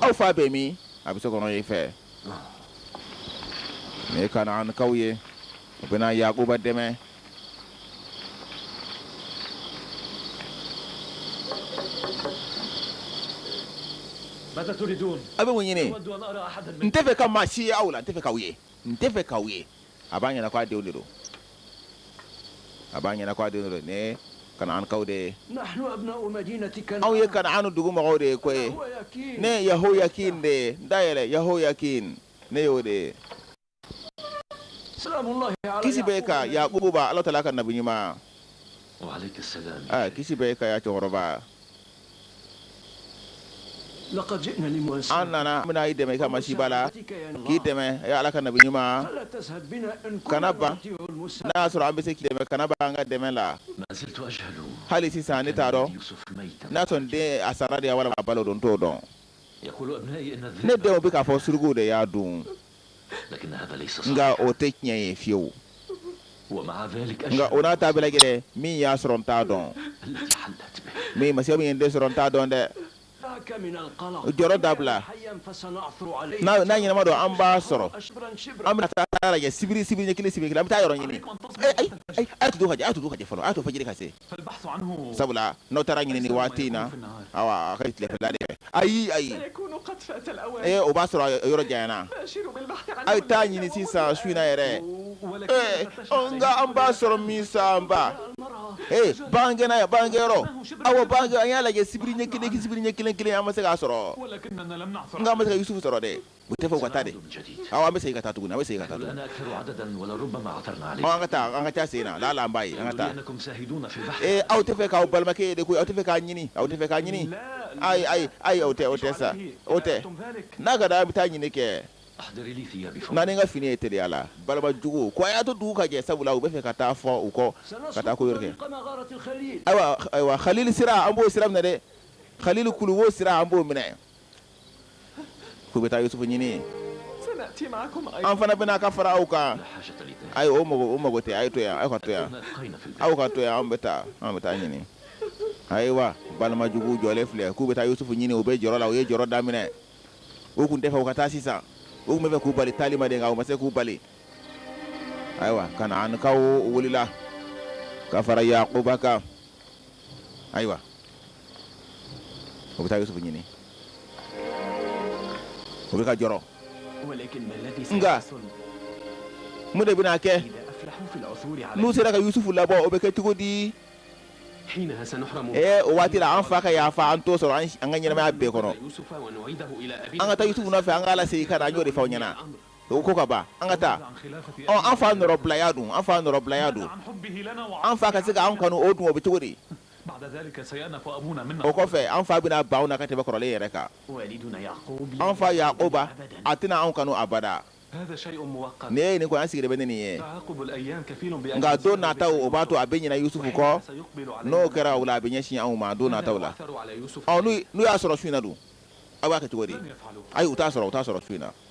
[SPEAKER 1] aw fa bɛ min a bɛ so kɔnɔ yen fɛ ne kanaankaw ye u bɛna yakuba dɛmɛ aw bɛ mun ɲini n t'a fɛ ka maa si ye aw la n t'a fɛ k'aw ye n t'a fɛ k'aw ye a b'a ɲɛna k'a denw de don a b'a ɲɛna k'a denw de don ne kanaankaw de ye anw ye kanaan dugu mɔgɔw de ye ko ye ne ye yahoyakin de ye n da yɛlɛ yahoyakin ne y'o de ye kisi b'i kan yakuba ala taala ka nabi ɲuman ah, kisi b'i kan ya cɛkɔrɔba an nana an bɛna i dɛmɛ i ka masiba la k'i dɛmɛ ya ala ka nabi ɲuman kana ban n'a y'a sɔrɔ an bɛ se k'i dɛmɛ kana ban an ka dɛmɛ la hali sisan ne t'a dɔn n'a sɔrɔ n den a sara de wa walima a balo don n t'o dɔn ne denw bɛ k'a fɔ surukuw de y'a dun nka o tɛ tiɲɛ ye fiyewu nka o n'a ta bɛɛ lajɛlen min y'a sɔrɔ n t'a dɔn min ma min ye n den sɔrɔ n t'a dɔn dɛ o jɔrɔ dabila n'a ɲɛnama don an b'a sɔrɔ an bɛ taa sibiri sibiri ɲɛ kelen sibiri an bɛ taa yɔrɔ ɲini a to dugu ka jɛ a to dugu ka jɛ fɔlɔ a to fajiri ka se sabula n'aw taara ɲini waati in na a ka tilefɛla de ayi ayi ee o b'a sɔrɔ yɔrɔ janyana a ye taa ɲini sisan su in na yɛrɛ nka an b'a sɔrɔ min sanba ee bagangɛnna ye bagangɛn yɔrɔ aw ban an y'a lajɛ sibiri ɲɛ kelen sibiri ɲɛ kelen kelen an ma se k'a sɔrɔ nka an ma se ka Yusufu sɔrɔ dɛ u tɛ fɛ u ka taa de aw an bɛ segin ka taa tuguni an bɛ segin ka taa tuguni aw an ka taa an ka taa segin na ala la an b'a ye an ka taa ee aw tɛ fɛ k'aw balimakɛ ye de koyi aw tɛ fɛ k'a ɲini aw tɛ fɛ k'a ɲini ayi ayi ayi o tɛ o tɛ sa o tɛ n'a ka da an bɛ taa ɲini kɛ naani ka fini ye teliya la balima jugu ko a y'a to dugu ka jɛ sabula u bɛ fɛ ka taa fɔ u kɔ ka taa ko yɔrɔ kɛ ayiwa ayiwa halil sira an b'o sira minɛ dɛ halil kuluwo sira an b'o minɛ k'u bɛ taa Yusufu ɲini yen an fana bɛ na ka fara aw kan ayi o mago o mago tɛ a ye to yan aw ka to yan aw ka to yan an bɛ taa an bɛ taa ɲini ayiwa balima jugu jɔlen filɛ k'u bɛ taa Yusufu ɲini u bɛ jɔrɔ la u ye jɔrɔ daminɛ u tun tɛ fɛ u ka taa sisan u tun bɛ fɛ k'u bali taali ma de nka u ma se k'u bali ayiwa Kanaanikaw wulila ka fara Yakuba kan ayiwa u bɛ taa yusufu ɲini u bɛ ka jɔrɔ nka mun de bɛna kɛ n'u sera ka yusufu labɔ o bɛ kɛ cogo di o waati la an fa ka yafa an t'o sɔrɔ an ka ɲɛnamaya bɛɛ kɔnɔ an ka taa yusufu nɔ fɛ an k'a lasegin ka n'a jɔ de faw ɲɛna o ko ka ban an ka taa an fa nɔrɔbilaya dun an fa nɔrɔbilaya don an fa ka se k'an kanu o dun o bɛ cogo di O kɔfɛ an fa bɛna ban anw na ka tɛmɛ kɔrɔlen yɛrɛ kan an fa Yakuba a tɛna anw kanu abada n ye nin ko an sigi bɛ nin ye nka don nataw o b'a to a bɛ ɲina Yusufu kɔ n'o kɛra a bɛ ɲɛsin anw ma don nataw la n'u y'a sɔrɔ su in na dun aw b'a kɛ cogo di ayi u t'a sɔrɔ su in na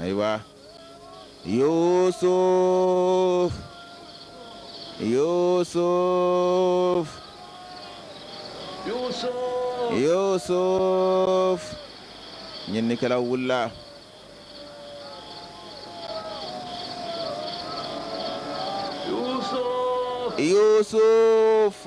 [SPEAKER 1] ayiwa yusuf yusuf yusuf ɲinnikɛlaw wulila yusuf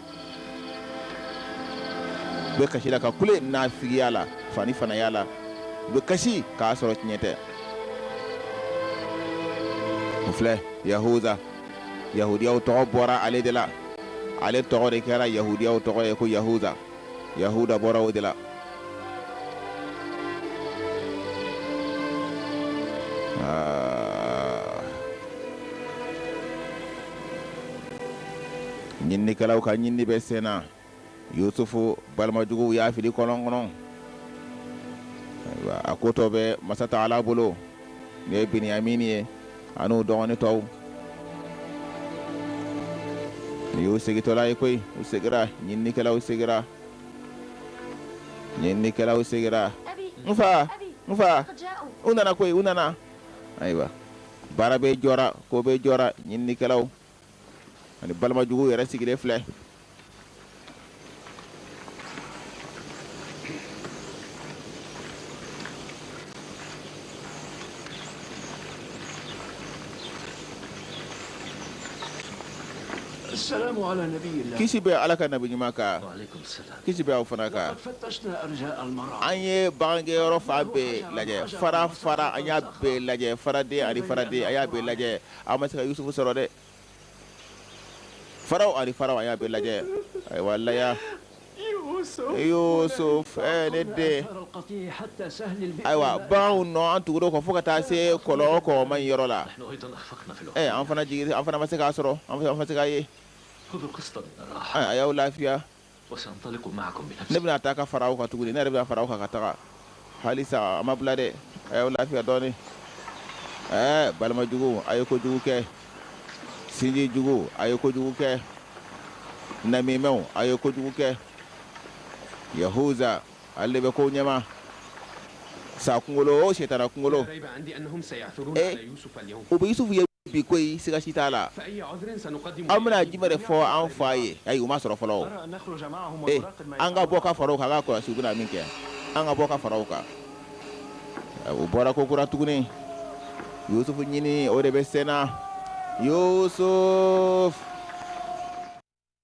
[SPEAKER 1] u bɛ kasi la ka kule naafigiya la fani fanaya la u bɛ kasi k'a sɔrɔ tiɲɛ tɛ o filɛ yahuza yahudiyaw tɔgɔ bɔra ale de la ale tɔgɔ de kɛra yahudiyaw tɔgɔ ye ko yahuza yahuda bɔra o de la Ɲinininkɛlaw ka ɲinini bɛ sen na, Yusufu balimajuguw y'a fili kɔlɔn kɔnɔ, ayiwa a ko tɔ bɛ masa Taala bolo, n'o ye Biniyamini ye an'u dɔgɔnin tɔw. Nin y'u segitɔla ye koyi, u segira, ɲinininkɛlaw segira, ɲinininkɛlaw segira, n fa, n fa, u nana koyi, u nana, ayiwa baara bɛɛ jɔra, ko bɛɛ jɔra, ɲinininkɛlaw. ani balimajugu yɛrɛ sigilen filɛ kisi bɛ ala ka nabi ɲuman kan kisi bɛ aw fana kan an ye bagangɛnyɔrɔ fan bɛɛ lajɛ fara fara an y'a bɛɛ lajɛ faraden ani faraden an y'a bɛɛ lajɛ an ma se ka Yusufu sɔrɔ dɛ faraw ani faraw an y'a bɛɛ lajɛ ayiwa laya Yusuf ɛɛ ne den ayiwa baganw nɔ an tugura o kɔ fo ka taa se kɔlɔn kɔgɔma in yɔrɔ la ɛɛ an fana jigin an fana ma se k'a sɔrɔ an fana ma se k'a ye a y'aw lafiya ne bɛna taa ka fara aw kan tuguni ne yɛrɛ bɛna fara aw kan ka taga halisa a ma bila dɛ a y'aw lafiya dɔɔni ɛɛ balima jugu a ye kojugu kɛ sinji jugu a ye kojugu kɛ namimɛw a ye kojugu kɛ yahuza ale de bɛ kow ɲɛma sa kunkolo o sitanɛ kunkolo ee u bɛ yusufu ye bi koyi siga si t'a la an bɛna jumɛn de fɔ an fa ye ayi u m'a sɔrɔ fɔlɔ ee an ka bɔ ka fara u kan an k'a kɔlɔsi u bɛna min kɛ an ka bɔ ka fara u kan u bɔra kokura tuguni yusufu ɲini o de bɛ senna yusufu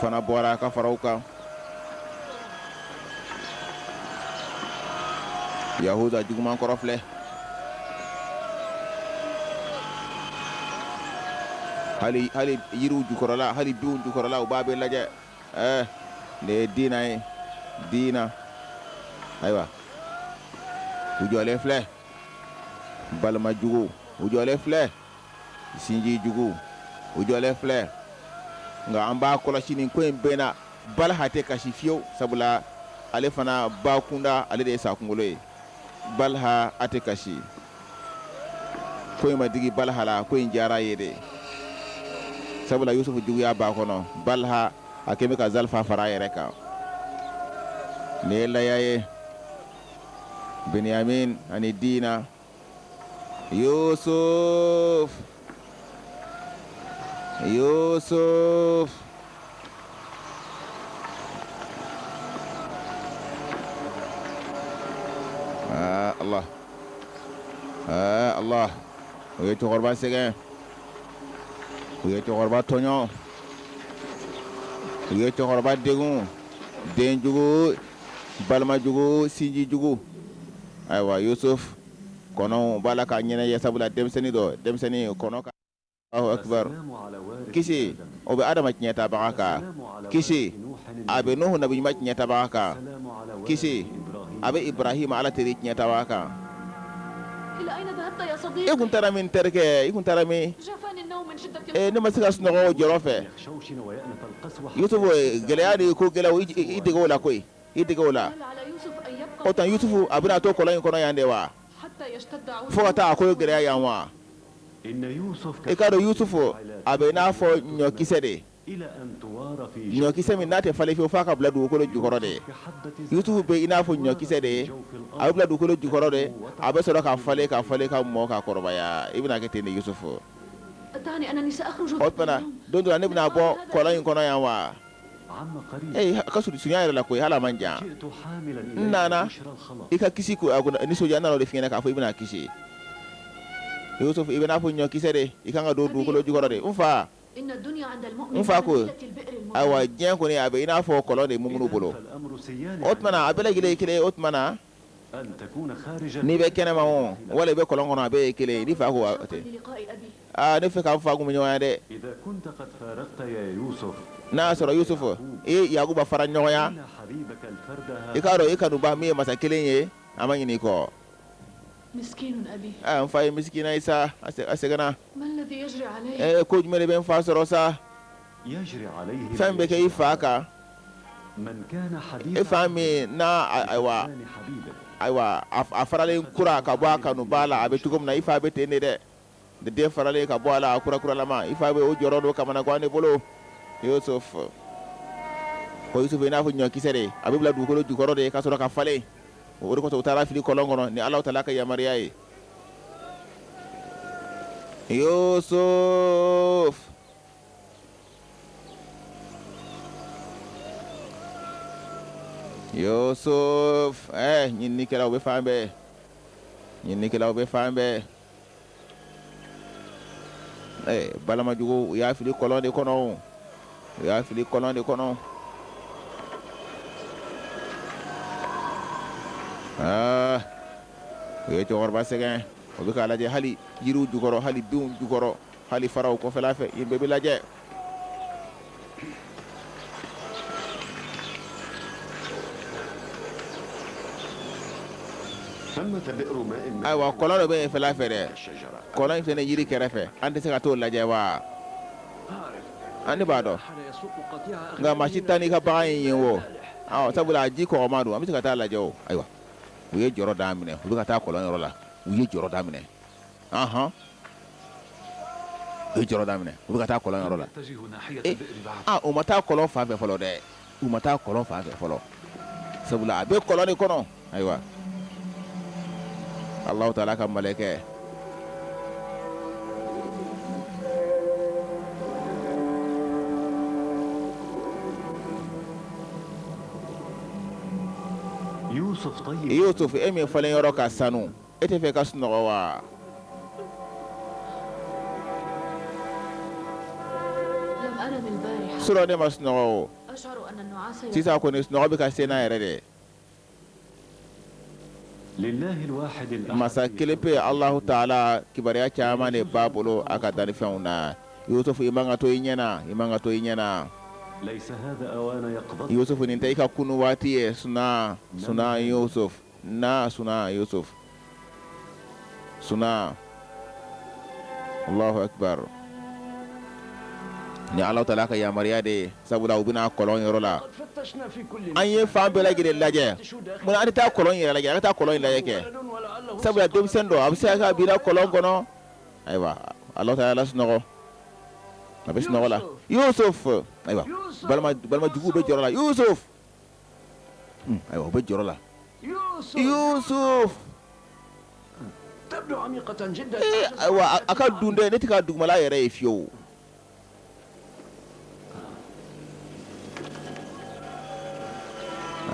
[SPEAKER 1] fana bɔra ka fara u kan yahuza juguman kɔrɔ filɛ hali hali yiriw jukɔrɔla hali binw jukɔrɔla u b'a bɛɛ lajɛ ɛɛ eh, nin ye dina ye dina ayiwa u jɔlen filɛ balima jugu u jɔlen filɛ Sinji jugu u jɔlen filɛ nka an b'a kɔlɔsi nin ko in bɛɛ na Balaha tɛ kasi fiyewu sabula ale fana ba kunda ale de ye sakunkolo ye Balaha a tɛ kasi ko in ma digi Balaha la ko in diyara a ye dɛ sabula Yusufu juguya b'a kɔnɔ Balaha a kɛlen bɛ ka zalifa fara a yɛrɛ kan nin ye Laya ye Biniyamin ani Dina Yusuf Yusuf aa Allah aa Allah u ye cɛkɔrɔba sɛgɛn u ye cɛkɔrɔba tɔɲɔ u ye cɛkɔrɔba degun den jugu Balimajugu sinjijugu ayiwa Yusufu kɔnɔ b'a la ka ɲɛnajɛ sabula denmisɛnnin don denmisɛnnin kɔnɔ Allahu akbar kisi o bɛ adama tiɲɛ tabaga kan kisi a bɛ Nuhu nabiɲuman tiɲɛ tabaga kan kisi a bɛ Ibarahima ala teri tiɲɛ tabaga kan e tun taara min terikɛ i tun taara min ne ma se ka sunɔgɔ jɔrɔ fɛ yusufu gɛlɛya de ye ko gɛlɛya o i- i i dege o la koyi i dege o la o tuma yusufu a bɛna to kɔlɔn in kɔnɔ yan de wa fo ka taa a ko ye gɛlɛya yan wa i k'a dɔn yusufu a bɛ i n'a fɔ ɲɔkisɛ de ɲɔkisɛ min n'a tɛ falen fiyewu f'a ka bila dugukolo jukɔrɔ de yusufu bɛ i n'a fɔ ɲɔkisɛ de ye a bɛ bila dugukolo jukɔrɔ de a bɛ sɔrɔ ka falen ka falen ka mɔ ka kɔrɔbaya i bɛna kɛ ten de yusufu O tuma na don dɔ la ne bɛna bɔ kɔlɔn in kɔnɔ yan wa ee ka surunya yɛrɛ la ko ala man jan n nana i ka kisi ko nisɔndiya n nana o de f'i ɲɛ na k'a fɔ i bɛna kisi i bɛ i n'a fɔ ɲɔkisɛ de i ka kan ka don dugukolo jukɔrɔ de n fa n fa ko ayiwa diɲɛ kɔni a bɛ i n'a fɔ kɔlɔn de mumini bolo o tuma na a bɛɛ ye kelen o tuma na n'i bɛ kɛnɛma o wala i bɛ kɔlɔn kɔnɔ a bɛɛ ye kelen ye n fa ko tɛ aaa ne fɛ ka n fa kumaɲɔgɔnya dɛ n'a y'a sɔrɔ yusufu ee yakuba fara ɲɔgɔn na i k'a dɔn i kanubaa min ye masa kelen ye a ma ɲinɛ i kɔ n fa ye misikinɛ ye sa a sɛgɛnna Ee ko jumɛn de bɛ n fa sɔrɔ sa fɛn bɛ kɛ i fa kan e fa min na ayiwa ayiwa a faralen kura ka bɔ a kanubaa la a bɛ cogo min na i fa bɛ ten de dɛ ni den faralen ka bɔ a la a kura kuralama i fa bɛ o jɔrɔ n'o kamanagan de bolo Yusufu ko Yusufu i n'a fɔ ɲɔkisɛ de a bɛ bila dugukolo jukɔrɔ de ka sɔrɔ ka falen o de kosɔn u taara fili kɔlɔn kɔnɔ ni ala taala ka yamaruya ye Yusuf Yusuf ɛɛ ɲininikɛlaw bɛ fan bɛɛ ɲininikɛlaw bɛ fan bɛɛ ɛɛ balimajugu u y'a fili kɔlɔn de kɔnɔ o u y'a fili kɔlɔn de kɔnɔ aa u ye cɛkɔrɔba sɛgɛn o bɛ k'a lajɛ hali yiriw jukɔrɔ hali binw jukɔrɔ hali faraw kɔfɛla fɛ yen bɛɛ bɛ lajɛ ayiwa kɔlɔn dɔ bɛ yen fɛla fɛ dɛ kɔlɔn in fana yiri kɛrɛfɛ an tɛ se ka t'o lajɛ wa an ne b'a dɔn nka maa si tɛ taa n'i ka bagan ye yen wo sabula a ji kɔgɔma don an bɛ se ka taa lajɛ o ayiwa u ye jɔrɔ daminɛ u bɛ ka taa kɔlɔnyɔrɔ la u ye jɔrɔ daminɛ ahɔn u ye jɔrɔ daminɛ u bɛ ka taa kɔlɔnyɔrɔ la eh, ah, u ma taa kɔlɔn fan fɛ fɔlɔ dɛ u ma taa kɔlɔn fan fɛ fɔlɔ sabula a bɛ kɔlɔn de kɔnɔ ayiwa alahu taala ka malɛkɛ Yusufu e min falen yɔrɔ ka sanu e tɛ fɛ ka sunɔgɔ wa surɔ ne ma sunɔgɔ o sisan kɔni sunɔgɔ bɛ ka se n na yɛrɛ de masa kelen pe Alahu taala kibaruya caman de b'a bolo a ka danfɛnw na Yusufu i man ka to i ɲɛ na i man ka to i ɲɛ na Yusufu nin tɛ i ka kunu waati ye sunaa sunaa Yusuf na sunaa Yusuf sunaa Allahu Akbar ni Alahu taala ka yamaruya de ye sabula u bɛ na kɔlɔn yɔrɔ la an ye fan bɛɛ lajɛlen lajɛ mun na an tɛ taa kɔlɔn yɛrɛ lajɛ an ka taa kɔlɔn in lajɛ kɛ sabula denmisɛn don a bɛ se ka kɛ a binna kɔlɔn kɔnɔ ayiwa Alahu taala y'a lasunɔgɔ a bɛ sunɔgɔ la Yusuf ayiwa balima balima juguw bɛ jɔrɔ la Yusuf Ayiwa u bɛ jɔrɔ la Yusuf ayiwa a ka dun dɛ ne tɛ ka dugumala yɛrɛ ye fiyewu o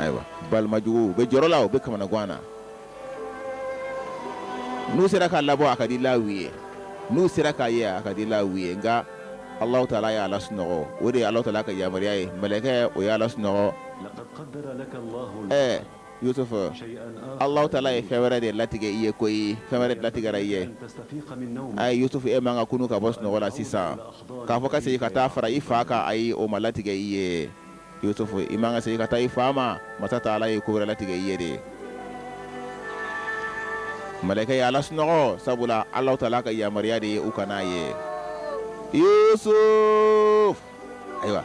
[SPEAKER 1] ayiwa balima juguw bɛ jɔrɔ la u bɛ kamanagan na n'u sera k'a labɔ a ka di olu ye n'u sera k'a ye a ka di olu ye nka Alahu taala y'a lasunɔgɔ o de ye Alahu taala ka yamaruya ye mɛlɛkɛ o y'a lasunɔgɔ ɛɛ Yusufu Alahu taala ye fɛn wɛrɛ de latigɛ i ye koyi fɛn wɛrɛ de latigɛra i ye ayi Yusufu e man ka kunu ka bɔ sunɔgɔ la sisan k'a fɔ ka segin ka taa fara i fa kan ayi o ma latigɛ i ye Yusufu i man kan ka segin ka taa i fa ma masa taala ye ko wɛrɛ latigɛ i ye de malɛkɛ y'a lasunɔgɔ sabula alahu taala ka yamaruya de ye u kana n'a ye Yusufu ayiwa